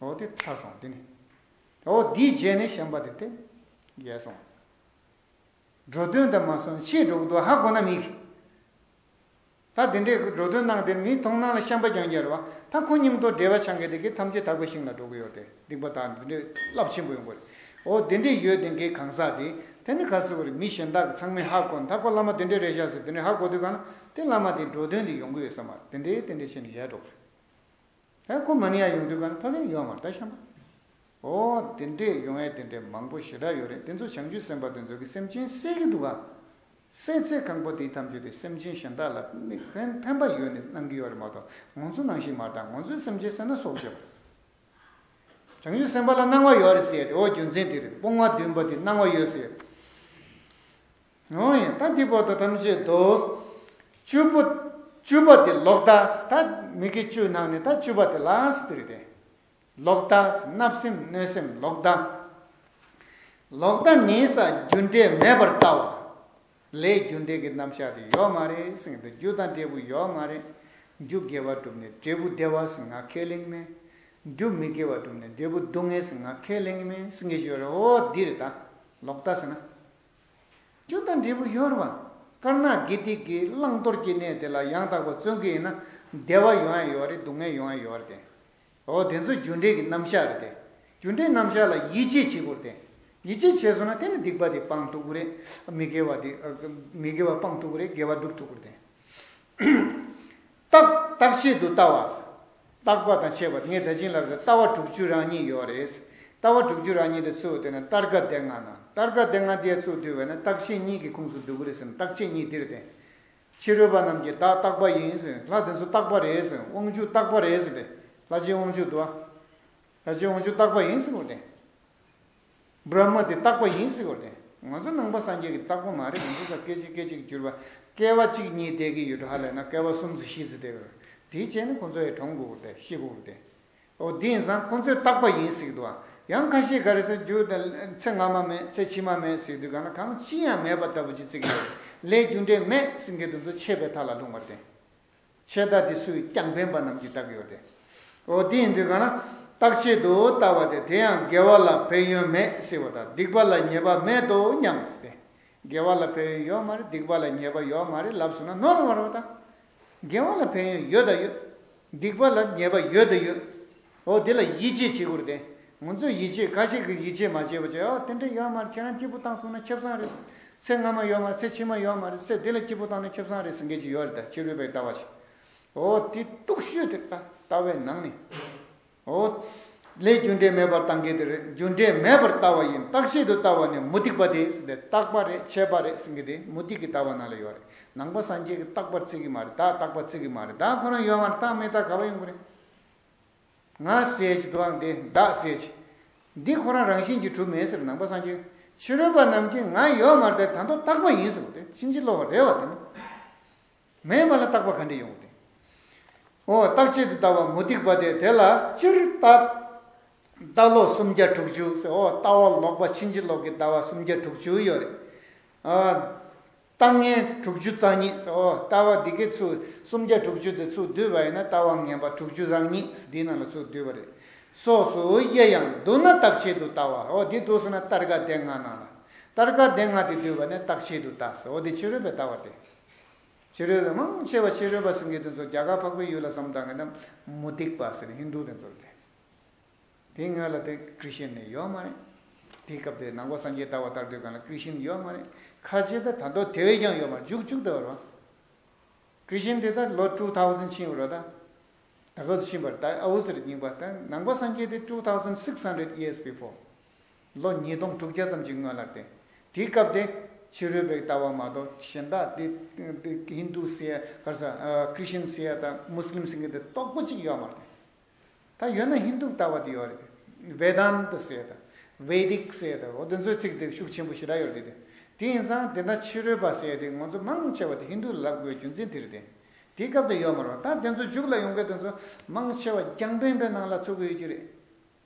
འོ་དེ་ཐར་སོང་དེ་ནི། འོ་དེའི་རྗེས་ནི་བྱམས་པ་དེ་དེ་རྒྱལ་སོང། འགྲོ་དོན་དུ་མ་སོང་ཕྱིས་འགྲོ་གི་འདུག་ཧ་གོ་ན་མི་གི། ད་དེ་འདྲའི་འགྲོ་དོན་གནང་དེར་མིའི་མཐོང་སྣང་ལ་བྱམས་པ་རྒྱང་རྒྱལ་བ་ད་ཁོ་སྙིང་སྟོབས་བྲལ་བ་ཆང་གི་དེ་གི་ཐམས་ཅད་དག་པའི་ཞིང་ལ་འགྲོ་གི་ཡོད་དེ་སྡིག་པ་དག་འདི་འདྲའི་རླབས་ཆེན་པོ་ཡོང་གི་རེད་འོ་དེ་འདྲའི་ཡོད་དེ་གི་གང་ཟག་དེ་དེ་ནི་ག་ཚོད་གི་རེད་མི་གཞན་དག་གི་ཚང་མས་ཧ་གོ་ན་ད་ཁོ་བླ་མ་དེ་འདྲའི་རེད་བཞག་ཟེར་དེ་འདྲའི་ཧ་གོ་དུས་གང་ན་དེ་བླ་མ་དེ་འགྲོ་དོན་དུ་ཡོང་གི་ཡོད་ས་མ་རེད་དེ་འདྲའི་དེ་འདྲའི་ཆེ་ནི་ཡལ་འགྲོ་གི་རེད། ཨེ་ཁོ་མ་ནི་ཡང་ཡོང་དུས་ཁང་ཕ་ལས་ཡོང་བར་ད་བཤམས་པ། འོ། དེ་འདྲས་ཡོང་ཨེ་དེ་འདྲས་མང་པོ་ཞེ་དྲག་ཡོད་རེད་དེ་ཚོ་བྱང་ཆུས་སེམས་པ་དེ་ཚོ་གི་སེམས་ཅན་བསད་ཀྱི་འདུག་ག། བསད་ཚེ་ཁང་པ་དེའི་ཐམས་ཅད་དེ་སེམས་ཅན་གཞན་དག་ལ་དམིགས་འབེན་ཕན་པ་ཡོད་ནས་གནང་གི་ཡོད་རེད་མ་གཏོགས་ངོ་ཚོ་ནང་བཞིན་མ་གཏང་ངོ་ཚོས་སེམས་ཅན་བསད་ན་སྲོག་བཅད་པ་རེད། བྱང་ཆུས་སེམས་པ་ལ་སྣང་བ་ཡོད་རེད་ཟེར་ཡོད་དེ་འོ་རྒྱུ་མཚན་དེ་རེད་དཔུང་བ་འདུན་པ་དེ་སྣང་བ་ཡོད་ཟེར་ཡོད། ངོ་ཡི་ད་ཏི་བོ་ཏོ་ཐམས་ཅད་དུ། བཅུ་པོ། བཅུ་པ་དེ་ལོག་ལྟ་ད། མིག་གི་བཅུ་ནང་ནས་ད་བཅུ་པ་དེ་ལ་ཏི་རི་ཏི། ལོག་ལྟ་བརྣབ་སེམས་གནོད་སེམས་ལོག་ལྟ། ལོག་ལྟ་ནི་ས་རྒྱུ་འབྲས་མེད་པར་ལྟ་བ། ལས་རྒྱུ་འབྲས་ཀྱི་རྣམ་གཞག་དེ་ཡོད་མ་རེད་སེང་གེ་རྒྱུ་དང་འབྲས་བུ་ཡོད་མ་རེད། རྒྱུ་དགེ་བ་གྲུབ་ནས་འབྲས་བུ་བདེ་བ་སེང་ང་ཁས་ལེན་གྱི་མེད། རྒྱུ་མི་དགེ་བ་གྲུབ་ནས་འབྲས་བུ་སྡུག་བསྔལ་སེང་ང་ཁས་ལེན་གྱི་མེད་སེང་གེ་ཞུ་རེ་འོ་དི་རི་ད། ལོག་ལྟ་ཟེར་ན། སྐྱོན་དང་འབྲས་བུ་གཡོར་བ། དཀར་ནག་དགེ་སྡིག་གི་བླང་དོར་གྱི་གནས་དེ་ལ་ཡང་དག་པར་བརྩོན་གྱི་ཡིན་ན། བདེ་བ་ཡོང་ཡང་ཡོང་བ་རེད་སྡུག་བསྔལ་ཡོང་ཡང་ཡོང་བ་རེད་དེ། འོ་དེ་ཚོ་རྒྱུ་འབྲས་ཀྱི་རྣམ་གཞག་རེད་དེ། རྒྱུ་འབྲས་རྣམ་གཞག་ལ་ཡིད་ཆེས་བྱེད་དགོས་རེད་དེ། ཡིད་ཆེས་བྱས་སོང་ན་དེ་ནི་སྡིག་པ་དེ་སྤང་ཐུབ་ཀྱི་རེད། མི་དགེ་བ་དེ། མི་དགེ་བ་སྤང་ཐུབ་ཀྱི་རེད་དགེ་བ་སྒྲུབ་ཐུབ་ཀྱི་རེད་དེ། རྟག་རྟག་ཆད་དུ་ལྟ་བ། རྟག་པ་དང་ཆད་པ་ངས་ད་བྱིན་ལབ་ཟེར་ལྟ་བ་དྲུག་ཅུ་རང་གཉིས་ཡོད་རེད། ལྟ་བ་དྲུག་ཅུ་རང་གཉིས་དེ་ཚུད་དེ་ན་རྟར་ཁ་བདེ་ང་ན་རྟར་ཁ་བདེ་ང་དེའི་ཚུགས་དུས་བས་ན་རྟག་ཆད་གཉིས་ཀྱི་ཁུངས་སུ་འདུག་གི་རེད་སེམས་རྟག་ཆད་གཉིས་དེར་བདེན། ཕྱི་རོལ་པ་རྣམས་ཀྱིས་བདག་རྟག་པ་ཡིན་ཟེར་ལྷ་དེ་ཚོ་རྟག་པ་རེད་ཟེར་དབང་ཕྱུག་རྟག་པ་རེད་ཟེར་ཏེ་ལྷ་ཆེན་དབང་ཕྱུག་དུ་བདག་ཆེན་དབང་ཕྱུག་རྟག་པ་ཡིན་ཟེར་བ་བདེན། སྦྲགས་མ་དེ་རྟག་པ་ཡིན་ཟེར་བ་རེད། ང་ཚོ་ནང་པ་སངས་རྒྱས་ཀྱི་རྟག་པ་མ་རེད་ང་ཚོ་ཚ་སྐད་ཅིག་སྐད་ཅིག་གྱུར་པ། སྐལ་བ་གཅིག་གཉིས་བསྡད་ཀྱི་ཡོད་ཧ་ལས་ན་སྐལ་བ་གསུམ་ཚོ་བཞི་ཚོ་བསྡད་ཀྱི་རེད། དེའི་རྗེས་ནི་ཁོ་ཚོ་ཡི་གྲོངས་དགོས་རེད་ཤི་དགོས་རེད། ཨོ་དེ་ཡིན་ཙང་ཁོ་ཚོས་རྟག་པ་ཡིན་ཟེར་གྱི་འདུག་ཨ། ཡང་ཁ་ཤས་ག་རེ་ཟེར་རྒྱུ། ཚེ་སྔ་མ་མེད་ཚེ་ཕྱི་མ་མེད་ཟེར་དུས་གང་ན་གང་ཅི་ཡང་མེད་པ་ལྟ་བུ་ཅིག་བརྩི་གི་ཡོད་རེད། ལས་རྒྱུ་འབྲས་མེད་སེང་གེ་དུ་ཚོ་ཆད་པའི་མཐའ་ལ་ལྷུང་བ་དེ། ཆད་ལྟ་དེ་སུས་ཀྱང་བདེན་པ་རྣམས་ཀྱིས་བརྟགས་ཡོད་དེ། འོ་དེའི་འདི་གང་ན་རྟག་ཆད་དུ་ལྟ་བ་དེ་དེ་ཡང་དགེ་བ་ལ་ཕན་ཡོན་མེད་ཟེར་བ་དང་སྡིག་པ་ལ་ཉེས་པ་མེད་དོ་སྙམ་ཟེར་ཏེ། དགེ་བ་ལ་ཕན་ཡོན་ཡོད་མ་རེད་སྡིག་པ་ལ་ཉེས་པ་ཡོད་མ་རེད་ལབ་སོང་ན་ནོར་བར་བ་དང། དགེ་བ་ལ་ཕན་ཡོན་ཡོད་དང་ཡོད། སྡིག་པ་ལ་ཉེས་པ་ཡོད་དང་ཡོད། འོ་དེ་ལ་ཡིད་ཆེས་བྱེད་དགོས་རེད་ང་ཚོས་ཡིད་ཆེས་ཁ་ཤས་ཀྱིས་ཡིད་ཆེས་མ་བྱས་པ་ཅི་འོ་དེ་འདྲ་ཡོད་མ་རེད་ཁྱེད་རང་སྐྱིད་པོ་བཏང་ཚུགས་ན་ཁྱབ་བཟང་རེད་ཚེ་སྔ་མ་ཡོད་མ་རེད་ཚེ་ཕྱི་མ་ཡོད་མ་རེད་ཚེ་འདི་ལ་སྐྱིད་པོ་བཏང་ན་ཁྱབ་བཟང་རེད་ཟེར་མཁན་ཞིག་ཡོད་རེད་ད་ཕྱི་རོལ་པའི་ལྟ་བ་ཞིག་འོ་དེ་གཏུགས་ཤོས་དེ་ལྟ་བའི་ནང་ནས་འོ་ལས་རྒྱུ་འབྲས་མེད་པར་བཏང་གི་དེ་རེད་རྒྱུ་འབྲས་མེད་པར་ལྟ་བ་ཡིན་བརྟག་བྱེད་དུ་ལྟ་བ་ནི་མུ་སྟེགས་པ་དེ་ཟེར་དེ་བརྟག་པ་རེད་ཆད་པ་རེད་ཟེར་གི་དེ་མུ་སྟེགས་ཀྱི་ལྟ་བ་ནང་ལ་ཡོད་རེད་ནང་པ་སངས་རྒྱས་ཀྱི་བརྟག་པར་བརྩི་གི་མ་རེད་བདག་བརྟག་པར་བརྩི་གི་མ་རེད་བདག་ཁོ་རང་ཡོད་མ་རེད་བརྟག་མི་བརྟག་ག་བ་ཡོང་གི་རེད། ང་གསལ་བྱེད་དུའང་དེ་བདག་གསལ་བྱེད། འདི་ཁོ་རང་རང་བཞིན་གྱིས་གྲུབ་མེད་ཟེར་ནང་པ་སངས་རྒྱས་ཕྱི་རོལ་པ་རྣམས་ཀྱིས་ང་ཡོད་མར་དེ་དང་དུ་བཏགས་པ་ཡིན་ཟེར་བ་དེ་ཕྱིན་ཅི་ལོག་བ་རེད་བ་དེ་ནི་མེད་མ་ལ་བཏགས་པ་ག་འདྲས་ཡོང་དེ། འོ་བཏགས་བྱེད་དུ་བཏགས་པ་མུ་སྟེགས་པ་དེ་དེ་ལ་སྤྱིར་བཏགས་ལོག་སུམ་བརྒྱ་དྲུག་ཅུ་ཟེར་འོ་བཏགས་བ་ལོག་པ་ཕྱིན་ཅི་ལོག་གི་བཏགས་བ་སུམ་བརྒྱ་དྲུག་ཅུ་ཡོད་རེད། ལྟ་ངན་དྲུག་ཅུ་རྩ་གཉིས་སོ། ལྟ་བ་འདི་གའི་ཚུལ་སུམ་བརྒྱ་དྲུག་ཅུ་དེ་ཚུར་བསྡུས་པ་ཡིན་ན་ལྟ་བ་ངན་པ་དྲུག་ཅུ་རང་ཉིད་འདི་རྣམས་ལ་ཚུར་བསྡུས་པ་རེད། སོགས་སུ་དབྱེ་ཡང་བསྡུ་ན་རྟག་ཆད་དུ་ལྟ་བ་འོ་དེ་བསྡུ་སོང་ན་སྟར་ག་བདེ་ལྔ་སྣང་ལ། སྟར་ག་བདེ་ལྔ་དེ་བསྡུས་པ་ནས་རྟག་ཆད་དུ་ལྟ་སོ་འོ་དེ་ཕྱི་རོལ་པའི་ལྟ་བ་སྟེ། ཕྱི་རོལ་པའི་མང་ཆེ་བ་ཕྱི་རོལ་པ་སེང་གེ་དེ་ཚོ་རྒྱ་གར་འཕགས་པའི་ཡུལ་ལ་བསམ་གཏང་གི་ན་མུ་སྟེགས་པ་ཟེར་ནས་ཧིན་རྡུ་དེ་ཚོར་སྟེ། དེའི་སྔོན་ལ་དེ་ཀྲི་ཤན་ནི་ཡོད་མ་རེད། དེའི་སྐབས་དེ་ནང་གོ་སངས་རྒྱས་ལྟ་བ་ལྟར་དུས་གང་ལ་ཀྲི་ཤན་ཡོད་མ་རེད། ཁ་ཆེ་ད་ད་མདོ་དེ་བས་ཀྱང་ཡོད་མར་འཇུག་བཅུག་ད་བར་བ། ཀྲི་ཤན་དེ་ད་ལོ་ཀྲུག་ཐའོ་སན་ཕྱིན་བར་བ་ད། ད་ལོ་ཕྱིན་པར་ད་ཨ་བུ་ཟེར་སྙིང་པ་ད་ནང་གོ་སངས་རྒྱས་དེ་ཀྲུག་ཐའོ་སན་སིགས་ཧན་རེད་ཡེས་བྷི་ཕོ། ལོ་ཉིས་སྟོང་དྲུག་བརྒྱ་ཙམ་གྱི་སྔོན་ལར་དེ། དེའི་སྐབས་དེ། ཕྱི་རོལ་པའི་ལྟ་བ་མ་གཏོགས་གཞན་དག་དེ། ཧིན་དུ་སེ་ཡ། ཀྲི་ཤན་སེ་ཡ་ད་མུ་སི་ལིམ་སེང་གེ་དེ་རྟོགས་པོ་གཅིག་ཡོད་མ་རེད། ད་ཡོད་ན་ཧིན་དུ་ལྟ་བ་དེ་ཡོད་རེད། Vedanta ཟེར་དང། Vedic ཟེར་དང། འོ་དེ་ཚོའི་ཚིག་དེ་ཤུགས་ཆེན་པོ་ཞེ་དྲག་ཡོད་རེད་དེ། དེ་ཡིན་ཙང་དེ་འདྲ་ཕྱི་རོལ་པ་ཟེར་དེ་ངོ་ཚོ་མང་ཆེ་བ་དེ་ཧིན་དུ་ལབ་དགོས་རྒྱུ་མཚན་དེ་རེད་དེ། དེ་སྐབས་དེ་ཡོད་མ་རུང། ད་དེ་ཚོ་འཇུག་ལ་ཡོང་མཁན་དེ་ཚོ་མང་ཆེ་བ་རྒྱང་པན་པའི་ནང་ལ་ཚུད་དགོས་ཡོད་རྒྱུ་རེད།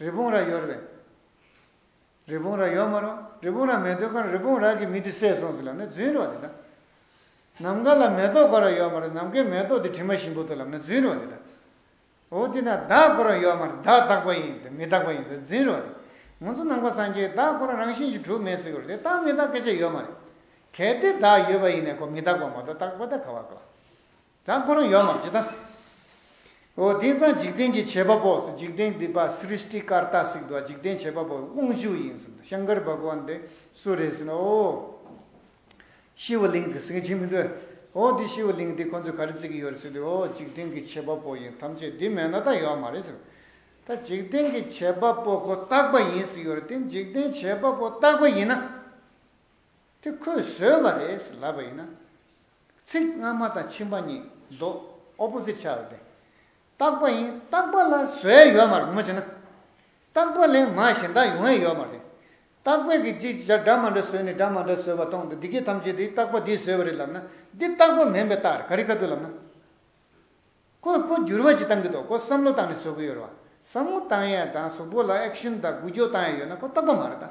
རི་བོང་རྭ་ཡོར་བས། རི་བོང་རྭ་ཡོག་མ་རུང། རི་བོང་རྭ་མེ་འདོད་ཁར་རི་བོང་རྭ་གི་མི་དེ་བསད་སོང་ཟེར་ལབ་ན་རྫུན་རོགས་དེ་དང། ནམ་མཁའ་ལ་མེ་ཏོག་གོ་ར་ཡོག་མ་རུང་ནམ་མཁའི་མེ་ཏོག་དེ་དྲི་མ་ཞིམ་པོ་འདུག་ལབ་ན་རྫུན་རོགས་དེ་དང། འོ་དེ་ན་བདག་གོ་ར་ཡོག་མ་རུང་བདག་རྟག་པ་ཡིན་དང་མི་རྟག་པ་ཡིན་ཟེར་རྫུན་རོགས་དེ། ང་ཚོ་ནང་པ་སངས་རྒྱས་བདག་གོ་ར་རང་བཞིན་གྱིས་གྲུབ་མེད་ཟེར་གི་རེད་རྟག་མི་རྟག་སྐད་ཆ་ཡོད་མ་རེད། གལ་ཏེ་བདག་ཡོད་པ་ཡིན་ན་གོ་མི་རྟག་པ་མ་གཏོགས་རྟག་པ་ད་ག་བ་དགོས། དང་ཁོ་རང་ཡོད་མར་བྱེད་དང། འོ་དེང་སང་འཇིག་རྟེན་གྱི་བྱེད་པ་པོ་སེ་འཇིག་རྟེན་འདི་པ་སྲིསྟི་ཀར་ཏཱ་སིག་དུ་བ་འཇིག་རྟེན་བྱེད་པ་པོ་དབང་ཕྱུག་ཡིན་ཟེར་འདུག་ཤངྐར་བྷ་ག་ཝན་དེ་སུ་རེད་ཟེར་ན་འོ། ཤི་བ་ལིང་དེ་སེང་ཆེན་མི་འདུག་འོ་དེ་ཤི་བ་ལིང་དེ་ཁོ་ཚོས་ག་རེ་བརྩི་གི་ཡོད་རེད་ཟེར་དུས་འོ་འཇིག་རྟེན་གྱི་བྱེད་པ་པོ་ཡིན་ཐམས་ཅད་འདི་མེད་ན་ད་ཡོད་མ་རེད་ཟེར། ད་འཇིག་རྟེན་གྱི་བྱེད་པ་པོ་ཁོ་རྟག་པ་ཡིན་ཟེར་ཡོད་རེད་དེ་འཇིག་རྟེན་བྱེད་པ་པོ་རྟག་པ་ཡིན་ན། དེ་ཁོས་བཟོས་པ་རེད་ཟེར་ལབ་པ་ཡིན་ན། ཚིག་སྔ་མ་དང་ཕྱི་མ་གཉིས་ལྡོག opposite བྱ་བ་སྟེ། རྟག་པ་ཡིན་རྟག་པ་ལ་བཟོས་ཡོད་མ་རེད་མ་བྱས་ན། རྟག་པ་ལས་མ་གཞན་དག་ཡོང་ཡས་ཡོད་མ་རེད། རྟག་པས་ཀྱི་ཅིག་ཅར་སྒྲ་མ་འདྲ་བཟོས་ནས་སྒྲ་མ་འདྲ་བཟོས་པ་སྟོང་དུ་འདི་གས་ཐམས་ཅད་དེ་རྟག་པ་འདིས་བཟོས་པ་རེད་ལབ་ན་འདི་རྟག་པ་མིན་པའི་རྟགས་རེད་ག་རེ་ག་དུས་ལབ་ན། ཀོས་ཀོས་འགྱུར་བ་ཅིག་བཏང་གི་འདུག་ཀོས་བསམ་བློ་བཏང་ནས་བཟོ་གི་ཡོད་རེད་བ། བསམ་བློ་བཏང་ཡས་དང་གཟུགས་པོ་ལ action དང་འགུལ་སྐྱོད་བཏང་ཡས་ཡོད་ན་ཀོ་རྟག་པ་མ་རེད་ད།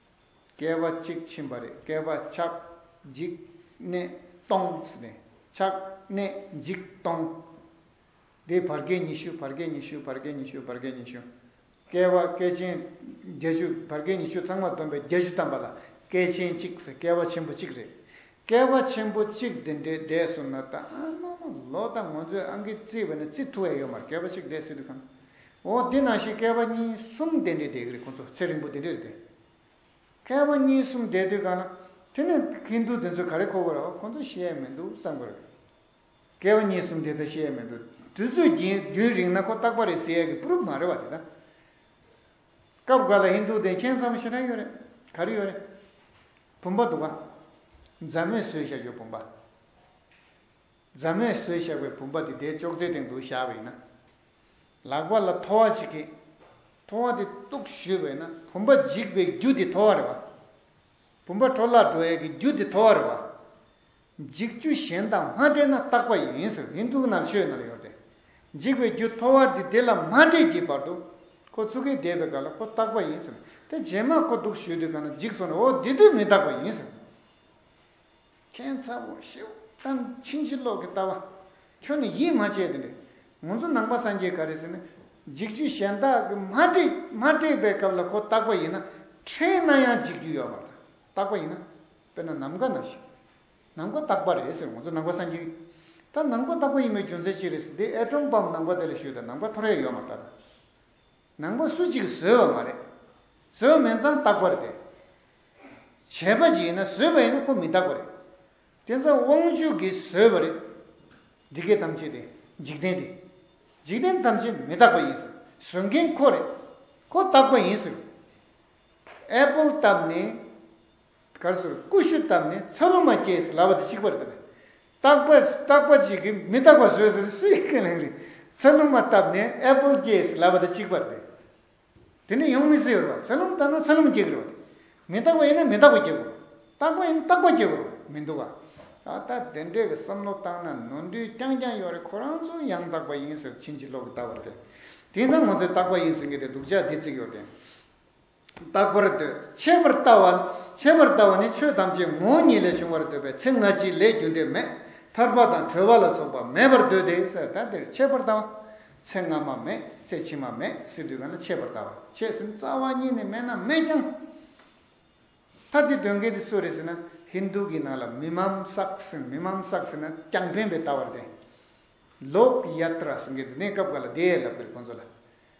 བསྐལ་པ་གཅིག་ཕྱིན་པ་རེད་བསྐལ་པ་ཆགས་འཇིག་གནས་སྟོང་ཆགས་གནས་འཇིག་སྟོང། དེའི་བར་བསྐལ་ཉི་ཤུ་བར་བསྐལ་ཉི་ཤུ་བར་བསྐལ་ཉི་ཤུ་བར་བསྐལ་ཉི་ཤུ། བསྐལ་བ་བསྐལ་ཆེན་བརྒྱད་ཅུ་བར་བསྐལ་ཉི་ཤུ་ཚང་མ་བསྡོམས་པས་བརྒྱད་ཅུ་བལྟམས་པ་ལ་བསྐལ་ཆེན་གཅིག་བསྐལ་བ་ཆེན་པོ་གཅིག་རེད། བསྐལ་བ་ཆེན་པོ་གཅིག་འདི་འདྲའི་འདས་གསུམ་ན་ད་ཨ་མ་ལོ་ད་ངོ་ཚོས་ཨང་ཀི་བརྩིས་པ་ནི་བརྩི་ཐུ་ཨེ་ཡོད་མར་བསྐལ་པ་གཅིག་འདས་སྲིད་དུ་ཁམས་འོ་དེ་ན་ཞིག་བསྐལ་པ་གཉིས་གསུམ་འདས་འདས་འདས་ཀྱི་ཁོ་ཚོ་ཚེ་རིང་པོ་དེ་འདྲས་རེད་དེ། བསྐལ་པ་གཉིས་གསུམ་འདས་དུས་གང་ན་དེ་ནས་ཧིན་དུ་དེ་ཚོས་ག་རེ་ཁོ་གོ་ར་བ་ཁོ་ཚོ་ཤེས་ཡ་མི་འདུག་བསམ་གོ་ར། བསྐལ་པ་གཉིས་གསུམ་འདས་ད་ཤེས་ཡ་མི་འདུག་དུས་ཚོད་རྒྱུན་རིང་ན་ཁོ་རྟག་པ་རེད་ཟེར་ཡ་གི་པུརུབ་མ་རེད་བ་དེ་ད། སྐབས་འགའ་ལ་ཧིན་དུ་དེ་མཁྱེན་ཚ་པོ་ཞེ་དྲག་ཡོད་རེད་ག་རེ་ཡོད་རེད། བུམ་པ་འདུག་ག། མཛའ་མོས་ཟོས་བཞག་ཞོར་བུམ་པ། རྫ་མས་ཟོས་བཞག་པའི་བུམ་པ་དེ་དེའི་ཅོག་ཙེའི་སྟེང་དུ་བཞག་པས་ན། ལག་པ་ལ་ཐོ་བ་བྱེད་ཀྱི། ཐོ་བ་དེ་གཏུགས་བཞུས་པས་ན་བུམ་པ་འཇིག་པའི་རྒྱུ་དེ་ཐོ་བ་རེད་བ། བུམ་པ་འཕྲོ་བརླག་འགྲོ་ཡས་ཀྱི་རྒྱུ་དེ་ཐོ་བ་རེད་བ། འཇིག་རྒྱུ་གཞན་དང་མ་འདྲེས་ན་རྟག་པ་ཡིན་ཟེར་ཧིན་དྷུ་ནང་ཆོས་ནང་ཡོད་དེ། འཇིག་པའི་རྒྱུ་ཐོ་བ་དེ་དེ་ལ་མ་འདྲེས་ཀྱི་བར་དུ། ཁོ་ཚུར་ཁས་བསྡད་པའི་ག་ལ་ཁོ་རྟག་པ་ཡིན་ཟེར། དེ་རྗེས་མ་ཁོ་གཏུགས་བཞུས་དུས་ག་ན་འཇིག་སོང་ནས་འོ་དེ་དུས་མི་རྟག་པ་ཡིན་ཟེར། ཁྱེད་ཚ་བོ་ཤེའུ་ཏན་ཆིང་ཕྱི་ལོག་གི་ལྟ་བ། ཁྱོད་ནི་ཡིད་མ་ཆེས་དེ་འདྲ། ངོ་ཚོ་ནང་པ་སངས་རྒྱས་ག་རེ་ཟེར་ན། འཇིག་རྒྱུ་གཞན་དག་གི་མ་སྤྲད་པའི་སྐབས་ལ་ཁོ་བརྟག་པ་ཡིན་ན། ཕྲན་ན་ཡང་འཇིག་རྒྱུ་ཡོད་པ་དང་བརྟག་པ་ཡིན་ན། དཔེར་ན་ནམ་མཁའ་ན་ཞིག། ནམ་མཁའ་བརྟག་པ་རེད་ཟེར་ངོ་ཚོ་ནང་པ་སངས་རྒྱས། ད་ནམ་མཁའ་བརྟག་པ་ཡིན་པའི་རྒྱུ་མཚན་ཅི་རེད་ཟེར་འདི་ཨེ་ཀྲོམ་པའམ་ནམ་མཁའ་དེ་ལ་ཞུས་ད་ནམ་མཁའ་ཐོ་རེ་ཡོད་མ་རྟག་དང། ནང་པ་སུ་གཅིག་གིས་བཟོས་པ་མ་རེད། བཟོས་པ་མེད་ཙང་བཏགས་པ་རེད། བྱས་པ་གཅིག་ཡིན་ན་བཟོས་པ་ཡིན་ན་ཁོ་མི་བཏགས་པ་རེད། དེ་ཚོ་དབང་ཕྱུག་གིས་བཟོས་པ་རེད། འདི་སྐད་ཐམས་ཅད་དེ་འཇིག་རྟེན་དེ། འཇིག་རྟེན་ཐམས་ཅད་མི་རྟག་པ་ཡིན་ཟེར། བཟོ་མཁན་ཁོ་རེད། ཁོ་བཏགས་པ་ཡིན་ཟེར། Apple བཏབ་ནས། གར་སོར་ཀུ་ཤུ་བཏབ་ནས་ཚ་ལུ་མ་སྐྱེས་ཟེར་ལབ་པ་དེ་གཅིག་པར་བཏབ། རྟག་པ་རྟག་པ་གཅིག་གིས་མི་རྟག་པ་བཟོས་ཟེར་སུས་ཁས་ལེན་རིགས། ཚ་ལུ་མ་བཏབ་ནས་ཨེ་པོལ་སྐྱེས་ཟེར་ལབ་པ་དེ་གཅིག་པར་བསྡད། དེ་ནི་ཡོང་མི་སྲིད་རོ། ཚ་ལུ་མ་བཏབ་ན་ཚ་ལུ་མ་སྐྱེ་གི་རོ། མི་རྟག་པ་ཡིན་ན་མི་རྟག་པ་སྐྱེ་གི་རོ། རྟག་པ་ཡིན་ན་རྟག་པ་སྐྱེ་གི་རོ་མི་འདུག་ག། ད་ལྟ་དེ་འདྲས་ཀྱི་བསམ་བློ་བཏང་ན་ནོར་འཁྲུལ་རྐྱང་རྐྱང་ཡོང་རེད་ཁོ་རང་ཚོ་ཡང་རྟག་པ་ཡིན་ཟེར་ཕྱིན་ཅི་ལོག་གི་ལྟ་བར་བསྡད། དེང་སང་ངོ་ཚོས་རྟག་པ་ཡིན་ཟེར་མཁན་དེ་སྡུག་ཅག་འདི་བརྩིགས་ཡོད་དེ། བརྟག་པར་འདོད། ཆད་པར་ལྟ་བ། ཆད་པར་ལྟ་བ་ནི་ཆོས་ཐམས་ཅད་ངོ་བོ་ཉིད་ལས་བྱུང་བར་འདོད་པའི་ཚེ་སྔ་ཕྱི་ལས་རྒྱུ་འབྲས་མེད། ཐར་པ་དང་གྲོལ་བ་ལ་སོགས་པ་མེད་པར་འདོད་དེ། ས་ད་འདིར་ཆད་པར་ལྟ་བ། ཚེ་སྔ་མ་མེད་ཚེ་ཕྱི་མ་མེད་སྲིད་དུས་གང་ན་ཆད་པར་ལྟ་བ། ཆད་སེམས་རྩ་བ་ཉིད་ནས་མེད་ན་མེད་ཀྱང། ད་འདི་དོན་གལ་དེ་སུ་རེད་ཟེར་ན་ཧིནྡཱུ་གི་ནང་ལ་མི་མམ་བསགས་ཟིན་མི་མམ་བསགས་ཟིན་ན་རྐྱང་འཕེན་པའི་ལྟ་བར་བསྟན། Lok Yatra ཟེར་མཁན་དེ་ནས་སྐབས་འགའ་ལ་དེའི་ལབ་པའི་ཁོང་ཚོ་ལ།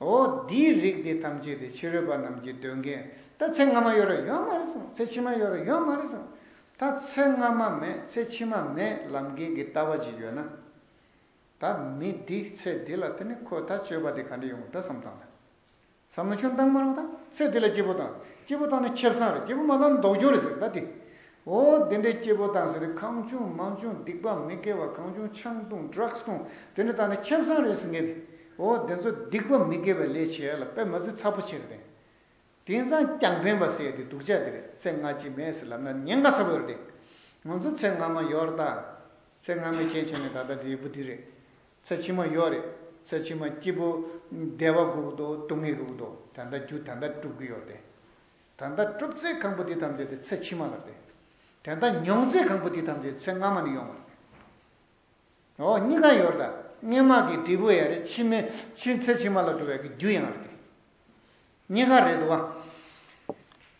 འོ་འདིའི་རིགས་འདི་ཐམས་ཅད་དེ་ཕྱི་རོལ་པ་རྣམས་ཀྱིས་འདོད་མཁན་ད་ཚེ་སྔ་མ་ཡོད་ར་ཡོད་མ་རེད་གསུངས་ཚེ་ཕྱི་མ་ཡོད་ར་ཡོད་མ་རེད་གསུངས་ད་ཚེ་སྔ་མ་མེད་ཚེ་ཕྱི་མ་མེད་ལབ་མཁན་གྱི་ལྟ་བ་ཅིག་ཡོད་ན། ད་མི་འདི་ཚེ་འདི་ལ་དེ་ནི་ཁོས་ད་སྤྱོད་པ་དེ་ག་འདྲ་ཡོང་གི་འདྲ་བསམ་བཏང་ད་བསམ་ན་ཁྱོད་འདང་མ་རུང་ད་ཚེ་འདི་ལ་སྐྱིད་པོ་བཏང་ཚེ་སྐྱིད་པོ་བཏང་ན་ཁེབས་བཟང་རེད་སྐྱིད་པོ་མ་བཏང་ན་མདོག་ཅོག་རེད་ཟེར་ད་དེ་ཨོ་དེ་འདྲའི་སྐྱེ་བོ་དང་ཟེར་བའི་ཁང་ཆུང་མང་ཆུང་སྡིག་པ་མི་དགེ་བ་གང་བྱུང་ཆང་བཏུང Drugs བཏུང་དེ་འདྲ་དག་ནི་ཁྱིམ་ཚང་རེད་ཟེར་ངེས་ཏེ་ཨོ་དེ་ཚོ་སྡིག་པ་མི་དགེ་བའི་ལས་བྱས་ལ་དཔེ་མ་ཚིག་ཚ་པོ་བྱས་ཏེ། དེང་སང་རྐྱང་ཕན་པ་ཟེར་ཏེ་སྡུག་ཅག་དེ་རེད་ཚེ་སྔ་ཕྱི་མའི་སྲིད་ལམ་ན་ཉེན་ཁ་ཚ་པོ་ཡོད་རེད། ང་ཚོ་ཚེ་སྔ་མ་ཡོད་ར་ད། ཚེ་སྔ་མའི་ཁྱད་ཆེ་ནི་ད་ལྟ་འདིའི་བུ་འདི་རེད། ཚེ་ཕྱི་མ་ཡོད་རེད་ཚེ་ཕྱི་མ་སྐྱེས་བུ་བདེ་བ་དགུག་དོ་སྡུག་བསྔལ་དགུག་དོ་དེ་འདྲ་རྒྱུ་དེ་འདྲ་སྒྲུབ་གི་ཡོད་རེད། ད་ལྟ་གྲུབ་ཚེ་གང་པོ་དེ་ཐམས་ཅད་དེ་ཚེ་ཕྱི་མ་ལ་སྟེ། དེ་ལྟ་མྱོང་ཚེ་གང་པོ་དེ་ཐམས་ཅད་ཚེ་སྔ་མ་ནས་ཡོང་བ་སྟེ། འོ་གཉི་ག་ཡོར་ད་སྔས་མ་གི་འབྲས་བུ་ཡང་རེད་ཕྱི་མའི་ཕྱི་ཚེ་ཕྱི་མ་ལ་འགྲོ་བའི་གི་རྒྱུ་ཡང་རེད་དེ། གཉི་ག་རེད་དོ།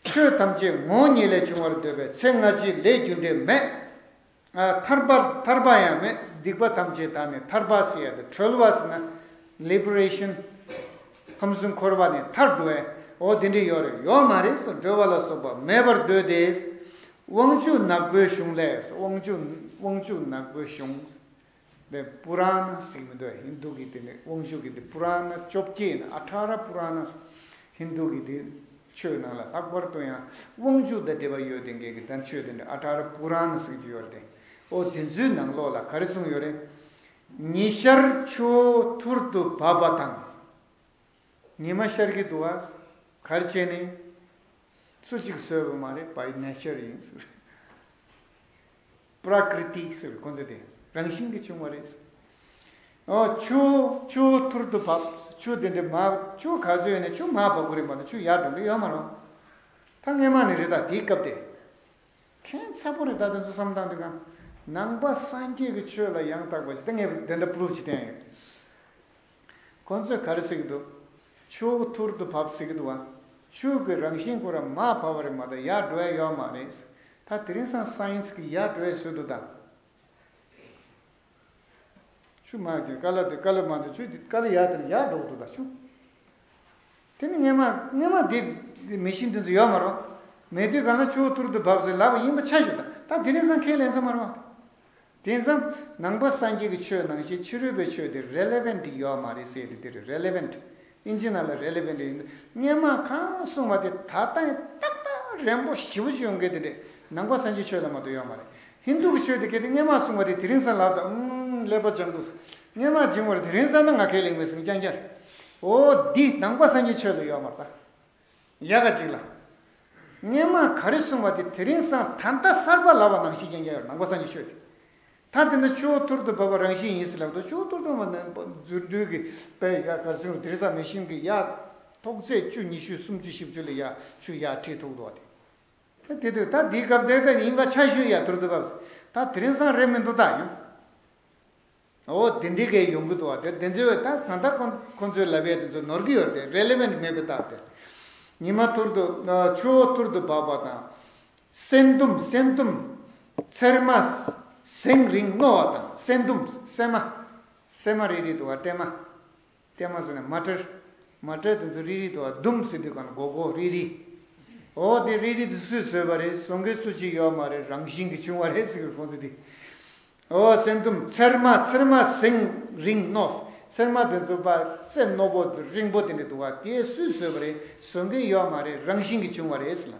ཆོས་ཐམས་ཅད་ངོ་གཉིས་ལས་བྱུང་བར་འདོད་པས་ཚེ་སྔ་ཕྱི་ལས་རྒྱུ་འབྲས་མེད། ཐར་པ་ཐར་པ་ཡང་ནི་སྡིག་པ་ཐམས་ཅད་དག་ནས་ཐར་པ་སེ་ཡ་དེ་གྲོལ་བ་སེ་ན Liberation ཁམས་སུ་འཁོར་བ་ནས་ཐར་འགྲོ་ཨོ་དེ་འདྲས་ཡོད་རེད་ཡོད་མ་རེད་སོ་འགྲོལ་བ་ལ་སོགས་པ་མེད་པར་འདོད་དེ། དབང་ཕྱུག་ནག་པོའི་གཞུང་ལས་དབང་ཕྱུག་དབང་ཕྱུག་ནག་པོའི་གཞུང། འདི་པུ་ར་ན་སིག་མི་འདུག་ཧིན་དྷུ་གི་དེ་ནི་དབང་ཕྱུག་གི་འདི་པུ་ར་ན་བཅོ་བརྒྱད་ནི་ཨ་དྷ་ར་པུ་ར་ན་ཧིན་དྷུ་གི་འདི་ཆོས་ནང་ལ་ལྷག་པར་དུ་ཡང་དབང་ཕྱུག་དང་འབྲེལ་བ་ཡོད་དེ་འགལ་གྱི་དང་ཆོས་དེ་ནི་ཨ་དྷ་ར་པུ་ར་ན་སིག་ཅེས་ཡོད་དེ། ཨོ་དེ་ཚོའི་ནང་ལོགས་ལ་ག་རེ་གསུངས་ཡོད་རེད། ཉི་ཤར་ཆུ་ཐུར་དུ་བབས་པ་དང། ཉི་མ་ཤར་གྱི་འདུག་ཨ། གར་བྱས་ནས། སུ་གཅིག་བཟོས་པ་མ་རེད་བའི་གནས་ཆེར་ཡིན། པྲཀིརྟི་ཟེར་བའི་ཀུན་རྫོབ་དེ་རང་བཞིན་གྱིས་བྱུང་བ་རེད། ཆུ་ཆུ་ཐུར་དུ་བབ། ཆུ་དེ་འདྲའི་མ་ཆུ་ག་ཚོད་ཡོད་ནས་ཆུ་མ་བབ་གོ་རེད་མ་གཏོགས་ཆུ་ཡར་འགྲོ་གི་ཡོད་མ་རུང། ད་སྔས་མ་ནི་རེད་ད་དེའི་སྐབས་དེ། མཁན་ཚ་པོ་རེད་ད་དེ་ཚོ་བསམ་སྟངས་དེ་གང། ནང་པ་སངས་རྒྱས་ཀྱི་ཆོས་ལ་ཡང་དག་པ་ཞིག་ད་ངས་དེ་འདྲ proof ཅིག་བསྟན་ཡོད། ཁོ་ཚོས་གར་བསྲེགས་འདུག། ཕྱུགས་ཐུར་དུ་བབས་བསྲེགས་འདུག་བ། ཕྱུགས་ཀྱི་རང་བཞིན་ཁོ་རང་མ་བབས་པ་རེད་མ་གཏོགས་ཡར་འགྲོ་ཡ་ཡོད་མ་རེད། ད་དེ་རིང་སང་སང་ཡིན་ཟེར་གི་ཡར་འགྲོ་ཡ་བཟོས་འདུག་ད། ཕྱུགས་མ་ཀྱི་ཀ་ལ་དེ་ཀ་ལ་མ་ཚོས་ཁྱོད་ཀྱི་ཀ་ལ་ཡར་དེར་ཡར་འགྲོ་གི་འདུག་ད་ཕྱུགས། དེ་ནི་ངེས་མ་ངེས་མ་དེ་མི་གཤིས་འདི་ཚོ་ཡོད་མ་རེད། མེད་དུས་གང་ལ་ཕྱུགས་ཐུར་དུ་བབས་ཟེར་ལབ་པ་ཡིན་པ་ཆ་ཞུ་ད། ད་དེ་རིང་སང་ཁས་ལེན་ས་མ་རེད་བ། དེང་སང་ནང་པ་སངས་རྒྱས་ཀྱི་ཆོས་ནང་བཞིན་ཕྱི་རོལ་པའི་ཆོས་དེ Relevant ཡོད་མ་རེད་ཟེར་དེ་རེད Relevant ཨིན་ཇི་ནང་ལ Relevant ཡིན་འདུག་སྔན་མ་གང་གསུངས་པ་དེ་ད་ལྟ་ཡང་ཏག་ཏག་རན་པོ་ཞི་བོ་ཅིག་ཡོང་གི་དེ་འདྲས་ནང་པ་སངས་རྒྱས་ཆོས་ལ་མ་གཏོགས་ཡོད་མ་རེད Hindu གི་ཆོས་དེ་གལ་ཏེ་སྔན་མ་གསུངས་པ་དེ་དེ་རིང་སང་ལག་ཏུ་ཨང་ཀླད་པ་སྦྱང་དགོས་སྔན་མ་སྦྱིང་བར་དེ་རིང་སང་ད་ང་ཁས་ལེན་མི་སྲིད་རྐྱང་རྐྱང་རེད་འོ་འདི་ནང་པ་སངས་རྒྱས་ཆོས་ལ་ཡོད་མ་རེད་ད། ཡལ་ག་ཅིག་ལ། སྙན་ངག་ག་རེ་གསུངས་པ་དེ་དེ་རིང་སང་ད་ལྟ་གསར་པ་ལབ་པ་ནང་བཞིན་རྐྱེན་རྐྱང་ཡོད་ནང་པ་སང་གི་ཆོས་དེ། ད་དེ་འདྲ་ཆུ་བོ་ཐུར་དུ་འབབ་པ་རང་བཞིན་ཡིན་ཟེར་ལབ་འདུག་ཆུ་བོ་ཐུར་དུ་འབབ་ན་རྫུ་འཕྲུལ་གྱི་དཔལ་ཡལ་གར་སེང་རུ་དེ་རིང་སང་མི་ཤིང་གི་ཡལ། ཐོག་ཚད་བཅུ་ཉི་ཤུ་སུམ་ཅུ་བཞི་བཅུ་ལ་ཡལ་ཆུ་ཡལ་ཁྲི་ཐུག་འདུག་བ་དེ། ད་དེ་དུས་ད་དེའི་སྐབས་དེ་ད་ཡིན་པ་ཆར་ཤུལ་ཡལ་ཐུར་དུ་འབབ་ཟེར་ད་དེ་རིང་སང་རེད་མི་འདུག་ད་ཡང། འོ་དེ་འདི་གའི་ཡོང་གི་འདུག་བ་དེ་དེ་ཚོའི་བ་ད་གང་ལྟར་ཁོང་ཚོའི་ལབ་ཡས་དེ་ཚོ་ནོར་གི་ཡོད་རེད Relevant མེད་པའི་རྟགས་དེ། ཉི་མ་ཐུར་དུ་ཆུ་བོ་ཐུར་དུ་འབབ་བ་དང། སེང་དུམ་སེང་དུམ། ཚེར་མ། སེང་རིང་རྣོ་བ་དང་སེང་དུམ་སེང་མ། སེང་མ་རིལ་རིལ་དུ་བ་སྤྲེལ་མ། བསྟན་མ་ཟེར་ན་མ་བཀྲལ། མ་བཀྲལ་དེ་ཚོ་རིལ་རིལ་དུ་ཟླུམ་ཟེར་དུས་གང་ལ་གོ་གོ་རིལ་རིལ། འོ་དེ་རིལ་རིལ་དེ་སུས་བཟོས་པ་རེད་ཟོ་མཁན་སུ་གཅིག་ཡོད་མ་རེད་རང་བཞིན་གྱི་བྱུང་བ་རེད་ཟེར་གི་ཁོང་ཚོ་དེ། འོ་སེང་ཟླུམ་ཚེར་མ་ཚེར་མ་སེང་རིང་ནོགས་ཚེར་མ་དེ་ཚོ་པ་ཚེ་རྣོ་པོ་རིང་པོ་དེ་འདྲ་འདུག་ག་དེ་སུས་བཟོས་པ་རེད་ཟོ་མཁན་ཡོད་མ་རེད་རང་བཞིན་གྱི་བྱུང་བ་རེད་ཟེར་ལ།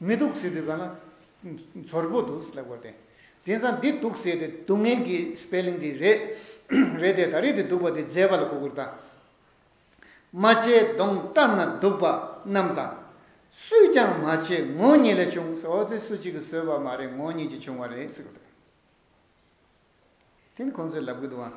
མི་སྡུག་ཟེར་དུས་ག་ན་མཚོར་པོ་འདུག་ཟེར་ལབ་དགོས་ཏེ། དེང་སང་འདི་སྡུག་ཟེར་དེ་སྡུག་བསྔལ་གྱི spelling དེ་རེད། རེད་དེ་ད་རེས་དེ་སྡུག་པ་དེ་མཛེས་པ་ལ་གོ་བསྒུར་དང། རྨ་བྱའི་མདོངས་བཀྲམ་ན་སྡུག་པ་རྣམས་དང། སུས་ཀྱང་མ་བྱས་ངོ་གཉིས་ལས་བྱུང་ཟེར་འོ་དེ་སུ་གཅིག་གིས་བཟོས་པ་མ་རེད་ངོ་གཉིས་ཀྱིས་བྱུང་བ་རེད་ཟེར་དགོས་ཏེ། དེ་ནི་ཁོང་ཚོས་ལབ་གི་འདུག་ཨང།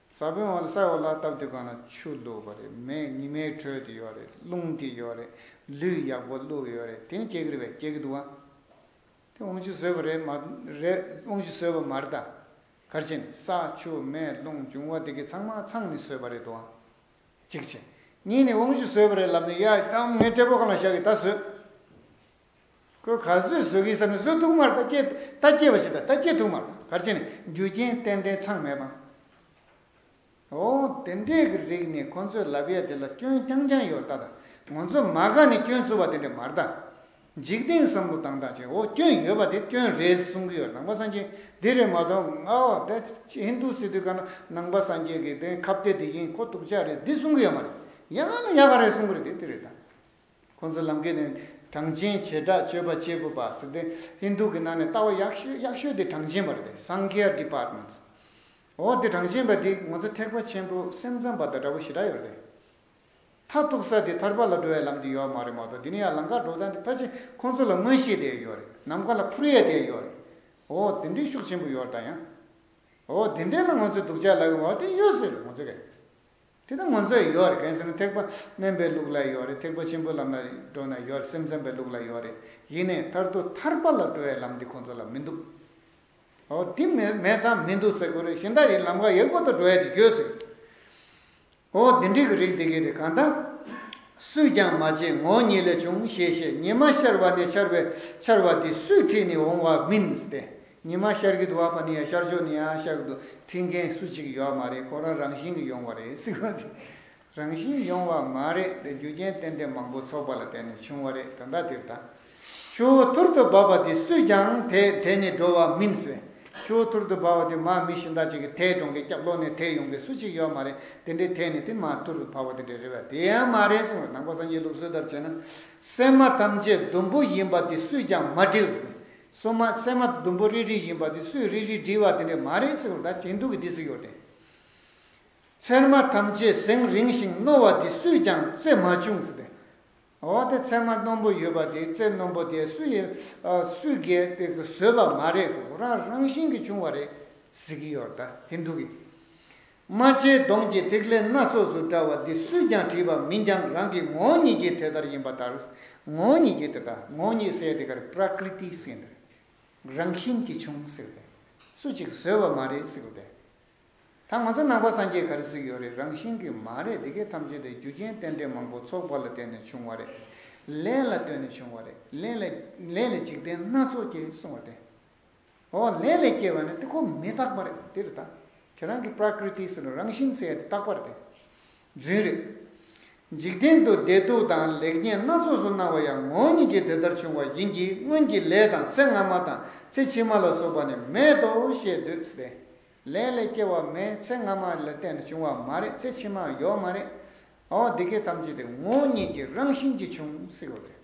ས་བོན་འོག་ལ་ས་འོག་ལ་བཏབ་དུས་གང་ན་ཆུ་བླུགས་པ་རེད་མེ་ཉི་མའི་ཁྲོད་དུ་ཡོད་རེད་རླུང་དེ་ཡོད་རེད་ལུས་ཡག་པོ་བླུགས་ཡོད་རེད་དེ་ནི་སྐྱེ་གི་རེད་བས་སྐྱེ་གི་འདུག་ཨ་དེ་དབང་ཕྱུག་བཟོས་པ་རེད་མ་རེད་དབང་ཕྱུག་བཟོས་པ་མ་རེད་ད་གར་བྱས་ནས་ས་ཆུ་མེ་རླུང་འབྱུང་བ་དེ་གི་ཚང་མ་ཚང་ནི་བཟོས་པ་རེད་འདུག་ཨ་གཅིག་བྱས་གཉིས་ནི་དབང་ཕྱུག་བཟོས་པ་རེད་ལབ་ནས་ཡ་ཨ་ངའི་སྐྲས་པོ་གང་ལ་བཞག་གི་ད་བཟོས། ཁོས་གར་བཟོའི་བཟོ་དགེའི་ས་ནས་བཟོ་ཐུག་མར་རྟ་སྐྱེལ་རྟ་སྐྱེལ་བ་ཞིག་དང་རྟ་སྐྱེལ་ཐུག་མར་གར་བྱས་ནས་རྒྱུ་རྐྱེན་ཏན་ཏན་ཚང་མེད་པ། འོ། དེ་འདྲས་ཀྱི་རིགས་ནི་ཁོ་ཚོས་ལབ་ཡས་དེ་ལ་སྐྱོན་རྐྱང་རྐྱང་ཡོད་རྟ་དང་ངོ་ཚོས་མ་ག་ནས་སྐྱོན་འཚོལ་བ་དེ་འདྲས་མ་རྟ། འཇིག་རྟེན་བསམ་བློ་དང་དག་བྱས་འོ་སྐྱོན་ཡོད་པ་དེ་སྐྱོན་རེད་གསུང་གི་ཡོད་ནང་པ་སངས་རྒྱས་འདི་རེད་མ་གཏོགས་ང་འོ་དེ་ཧིན་དུ་སི་དུས་ཀ་ན་ནང་པ་སངས་རྒྱས་ཀྱི་དེ་ཁ་བརྡའི་དེ་ཡིན་ཁོ་སྡུག་ཅག་རེད་འདི་གསུང་གི་ཡོད་མ་རེད་ཡ་ང་ཡ་ག་རེད་གསུང་གི་རེད་དེ་དེ་རེད་དང། ཁོང་ཚོ་ལམ་ཀེ་ནི་གྲངས་ཅན་བྱེ་བྲག་སྤྱོད་པ་བྱེད་དགོས་པ་ཟེར་ཏེ་ཧིན་དུ་གི་ནང་ནས་ལྟ་བ་ཡག་ཤོས་ཡག་ཤོས་དེ་གྲངས་ཅན་པ་རེད་དེ Sankhya Departments འོ་དེ་གྲངས་ཅན་པ་དེ་ངོ་ཚ་ཐེག་པ་ཆེན་པོ་སེམས་ཙམ་པ་དང་འདྲ་བོ་ཞེ་དྲག་ཡོད་རེད་དེ། མཐར་གཏུགས་ས་དེ་ཐར་པ་ལ་འགྲོ་བའི་ལམ་དེ་ཡོད་མ་རེད་མ་གཏོགས་དེ་ནི་ཡང་ལམ་ཁར་འགྲོ་སྟངས་དེ་ཕལ་ཆེར་ཁོང་ཚོ་ལ་མངོན་ཤེས་དེ་ཡོད་རེད་ནམ་མཁའ་ལ་འཕུར་ཡས་དེ་ཡོད་རེད་འོ་དེ་འདྲའི་ཤུགས་ཆེན་པོ་ཡོད་རེད་ད་ཡང་འོ་དེ་འདྲའི་ལ་ངོ་ཚོས་སྡུག་ཅག་ལ་ཡོད་མ་རེད་དེ་ཡོད་ཟེར་རེད་ངོ་ཚོས་རེད། དེ་ལྟར་ངོ་མཚར་ཡོད་རེད་གལ་སྲིད་ན་ཐེག་པ་དམན་པའི་ལུགས་ལ་ཡོད་རེད་ཐེག་པ་ཆེན་པོའི་ལམ་ལ་འགྲོ་ན་ཡོད་རེད་སེམས་ཙམ་པའི་ལུགས་ལ་ཡོད་རེད་ཡིན་ནའི་མཐར་ཐུག་ཐར་པ་ལ་འགྲོ་བའི་ལམ་འདི་ཁོང་ཚོ་ལ་མི་འདུག་ཨོ་དེ་མེད་ས་མི་འདུག་ཟེར་དགོས་རེད་གཞི་བདག་ཡིན་ལམ་ཁ་ཡག་པོ་དུ་འགྲོ་ཡ་དེ་གྱོད་ཟེར་གྱི་ཨོ་དེ་འགྲིག་གི་རིགས་འདི་གི་རེད་གང་ལྟར་སུས་ཀྱང་མ་བྱས་ངོ་ཉིད་ལས་བྱུང་ཞེས་བཤད་ཉི་མ་ཤར་བ་ནས་ཆར་བའི་ཆར་བ་དེ་སུས་ཁྲིད་ནས་འོང་བ་མིན་ཏེ་ཉི་མ་ཤར་གི་འདུག་བ་པ་ནི་ཡང་ཤར་ཕྱོགས་ནི་ཡང་ཤར་གི་འདུག་འཁྲིད་མཁན་སུ་གཅིག་ཡོད་མ་རེད་ཁོ་རང་རང་བཞིན་གྱི་ཡོང་བ་རེད་སྲིད་གོ་འདི་རང་བཞིན་ཡོང་བ་མ་རེད་འདི་རྒྱུ་རྐྱེན་རྟེན་འབྲེལ་མང་པོ་ཚོགས་པ་ལ་བརྟེན་ནས་བྱུང་བ་རེད་དོན་དག་དེ་རེད་ད་ཆུ་བོ་ཐུར་དུ་འབབ་པ་དེ་སུས་ཀྱང་དེད་དེ་ནི་འགྲོ་བ་མིན་ཟེར་ཆུ་བོ་ཐུར་དུ་འབབ་བ་དེ་མ་མི་ཤིང་རྟ་གཅིག་གི་དེད་འགྲོང་གི་སྐྱབས་ལོག་ནས་དེད་ཡོང་མཁན་སུ་གཅིག་ཡོད་མ་རེད་དེ་འདྲའི་དེད་ནི་དེ་མ་ཐུར་དུ་འབབ་བ་དེ་འདྲ་རེད་བ་དེ་ཡང་མ་རེད་གསུངས་བ་ནང་པ་སངས་རྒྱས་ལུགས་སྲོལ་ལྟར་བྱས་ན་སེམས་མ་ཐམས་ཅད་དུམ་བུ་ཡིན་པ་དེ་སུས་ཀྱང་མ་བསྒྲིགས་ཟེར། སོ་མ་སྲན་མ་དུམ་བུ་རིལ་རིལ་བཞིན་པ་དེ་སུས་རིལ་རིལ་བསྒྲིལ་བ་དེ་འདྲས་མ་རེད་ཟེར་བ་ད་ཇེ་སྡུག་གི་དེ་ཟེར་ཡོད་རེད། ཚེར་མ་ཐམས་ཅད་གཟེངས་རིང་ཞིང་རྣོ་བ་དེ་སུས་ཀྱང་རྩེ་མ་བྱུང་ཟེར་བས། འོ་དེ་ཚེར་མ་རྣོན་པོ་ཡོད་པ་དེ་རྩེ་རྣོན་པོ་དེ་སུ་ཡིན་སུས་གས་པས་བཟོས་པ་མ་རེད་ཟེར་རང་རང་བཞིན་གྱིས་བྱུང་བ་རེད་ཟེར་གྱི་ཡོད་རེད་ད་ཧིན་དྷུ་གིས། རྨ་བྱའི་མདོངས་ཀྱི་ཐིག་ལེ་སྣ་ཚོགས་སུ་བཀྲ་བ་འདི་སུས་ཀྱང་བྲིས་པ་མིན་ཀྱང་རང་གི་ངོ་བོ་ཉིད་ཀྱིས་དེ་ལྟར་ཡིན་པ་ལྟར། ངོ་བོ་ཉིད་ཀྱིས་དེ་དག་ངོ་བོ་ཉིད་གསལ་དེ་གར་པྲཀིརྟི་གསལ་འདི་རང་བཞིན་གྱིས་བྱུང་ཟེར་ཏེ། སུ་གཅིག་བཟོས་བ་མ་རེད་ཟེར་ཏེ། ད་ང་ཚོ་ནང་པ་སངས་རྒྱས་ག་རེ་གཟིགས་ཡོད་རེད་རང་བཞིན་གྱིས་མ་རེད་འདི་གའི་ཐམས་ཅད་དེ་རྒྱུ་རྐྱེན་རྟེན་འབྲེལ་མང་པོ་ཚོགས་པ་ལ་བརྟེན་ནས་བྱུང་བ་རེད། ལས་ལ་ལྟོས་ནས་བྱུང་བ་རེད། ལས་ལ་ལས་ལས་འཇིག་རྟེན་སྣ་ཚོགས་ཀྱིས་བསྲུང་བ་སྟེ། འོག་ལས་ལས་སྐྱེས་པ་ནི་དཀྱིལ་འཁོར་མི་རྟག་པ་རེད་འདི་རུ་བརྟག། དེ་རང་གི་པྲཀིརྟི་སེར་རང་བཞིན་གསལ་དེ་རྟག་པ་རེད། རྫུན་རེད། འཇིག་རྟེན་དུ་བདེ་སྡུག་དང་ལེགས་ཉེས་སྣ་ཚོགས་སུ་སྣང་བ་ཡང་ངོ་བོ་ཉིད་ཀྱིས་དེ་ལྟར་བྱུང་བ་ཡིན་གྱི་སྔོན་གྱི་ལས་དང་ཚེ་སྔ་མ་དང་ཚེ་ཕྱི་མ་ལ་སོགས་པ་ནི་མེད་དོ་ཞེས་འདོད་དེ། ལས་ལས་སྐྱེ་བ་མེད་ཚེ་སྔ་མ་ལ་བརྟེན་ནས་བྱུང་བ་མ་རེད་ཚེ་ཕྱི་མ་ཡོད་མ་རེད། འོག་འདི་སྐད་ཐམས་ཅད་དེ་ངོ་བོ་ཉིད་ཀྱི་རང་བཞིན་གྱིས་བྱུང་ཟེར་བ་རེད།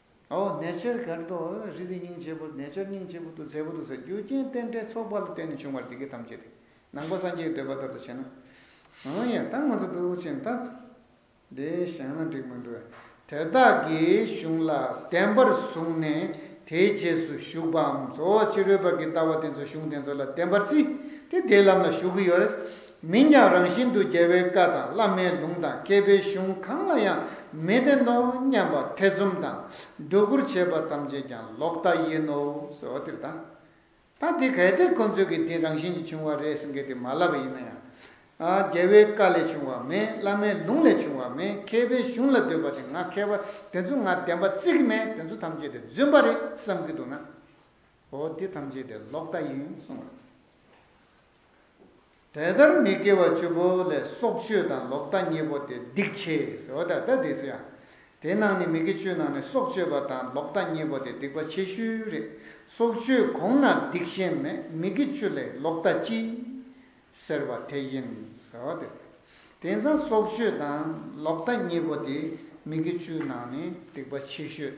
ཨོ་ནེ་ཆེར་གར་དུ་རི་དེ་སྙིང་བཅས་པོ་ནེ་ཆེར་སྙིང་བཅས་པོ་དུ་ཚལ་པོ་དུ་ས་རྒྱུ་རྐྱེན་རྟེན་འབྲེལ་ཚོགས་པ་ལ་བརྟེན་ནས་བྱུང་བར་འདི་སྐད་ཐམས་ཅད་དེ་ནང་པ་སངས་རྒྱས་འདོད་པ་ལྟར་དུ་བྱས་ན། ཨོ་ཡེ་ད་ང་ཚོ་དུག་ཆེན་ད་འདི་བཞག་ན་འགྲིག་མི་འགྲོ། དེ་དག་གི་གཞུང་ལ་བདེན་པར་བཟུང་ནས་དེའི་རྗེས་སུ་ཞུགས་པའམ་གཙོ་བོ་ཕྱི་རོལ་པ་གི་ལྟ་བ་དེ་ཚོ་གཞུང་དེ་ཚོ་ལ་བདེན་པར་བརྩི་སྟེ་དེའི་ལམ་ལ་ཞུགས་ཀྱི་ཡོད་རེད། མིན་ཀྱང་རང་བཞིན་དུ་རྒྱལ་བའི་བཀའ་དང་བླ་མའི་ལུང་དང་མཁས་པའི་གཞུང་གང་ལ་ཡང་མི་བརྟེན་ནོ་སྙམ་པ་ཐེ་ཚོམ་དང་སྒྲོ་སྐུར་བྱེད་པ་ཐམས་ཅད་ཀྱང་ལོག་ལྟ་ཡིན་ནོ་ཟེར་བ་དེ་རེད། ད་དེ་གལ་ཏེ་ཁོ་ཚོས་གི་དེ་རང་བཞིན་གྱིས་བྱུང་བ་རེད་ཟེར་གི་དེ་མ་ལབ་པ་ཡིན་ན་ཡང། རྒྱལ་བའི་བཀའ་ལས་བྱུང་བ་མེད་བླ་མའི་ལུང་ལས་བྱུང་བ་མེད་མཁས་པའི་གཞུང་ལ་སྡོད་པ་དེ་ང་མཁས་པ་དེ་ཚོ་ང་བདེན་པ་བརྩི་གི་མེད་དེ་ཚོ་ཐམས་ཅད་དེ་རྫུན་པ་རེད་བསམ་གི་འདུག་ན། འོ་དེ་ཐམས་ཅད་དེ་ལོག་ལྟ་ཡིན་གསུངས། དེ་ལྟར་མི་དགེ་བ་བཅུ་པོ་ལས་སྲོག་གཅོད་དང་ལོག་ལྟ་གཉིས་པོ་སྟེ་སྡིག་ཆེས་སོ། དེ་ནང་ནི་མི་དགེ་བཅུའི་ནང་ནས་སྲོག་གཅོད་པ་དང་ལོག་ལྟ་གཉིས་པོ་སྟེ་སྡིག་པ་ཆེ་ཤོས་རེད། སྲོག་གཅོད་གོང་ན་སྡིག་གཞན་མེད་མི་དགེ་བཅུ་ལས་ལོག་ལྟ་སྤྱི། ཟེར་བ་དེ་ཡིན། དེང་སང་སྲོག་གཅོད་དང་ལོག་ལྟ་གཉིས་པོ་སྟེ་མི་དགེ་བཅུའི་ནང་ནས་སྡིག་པ་ཆེ་ཤོས།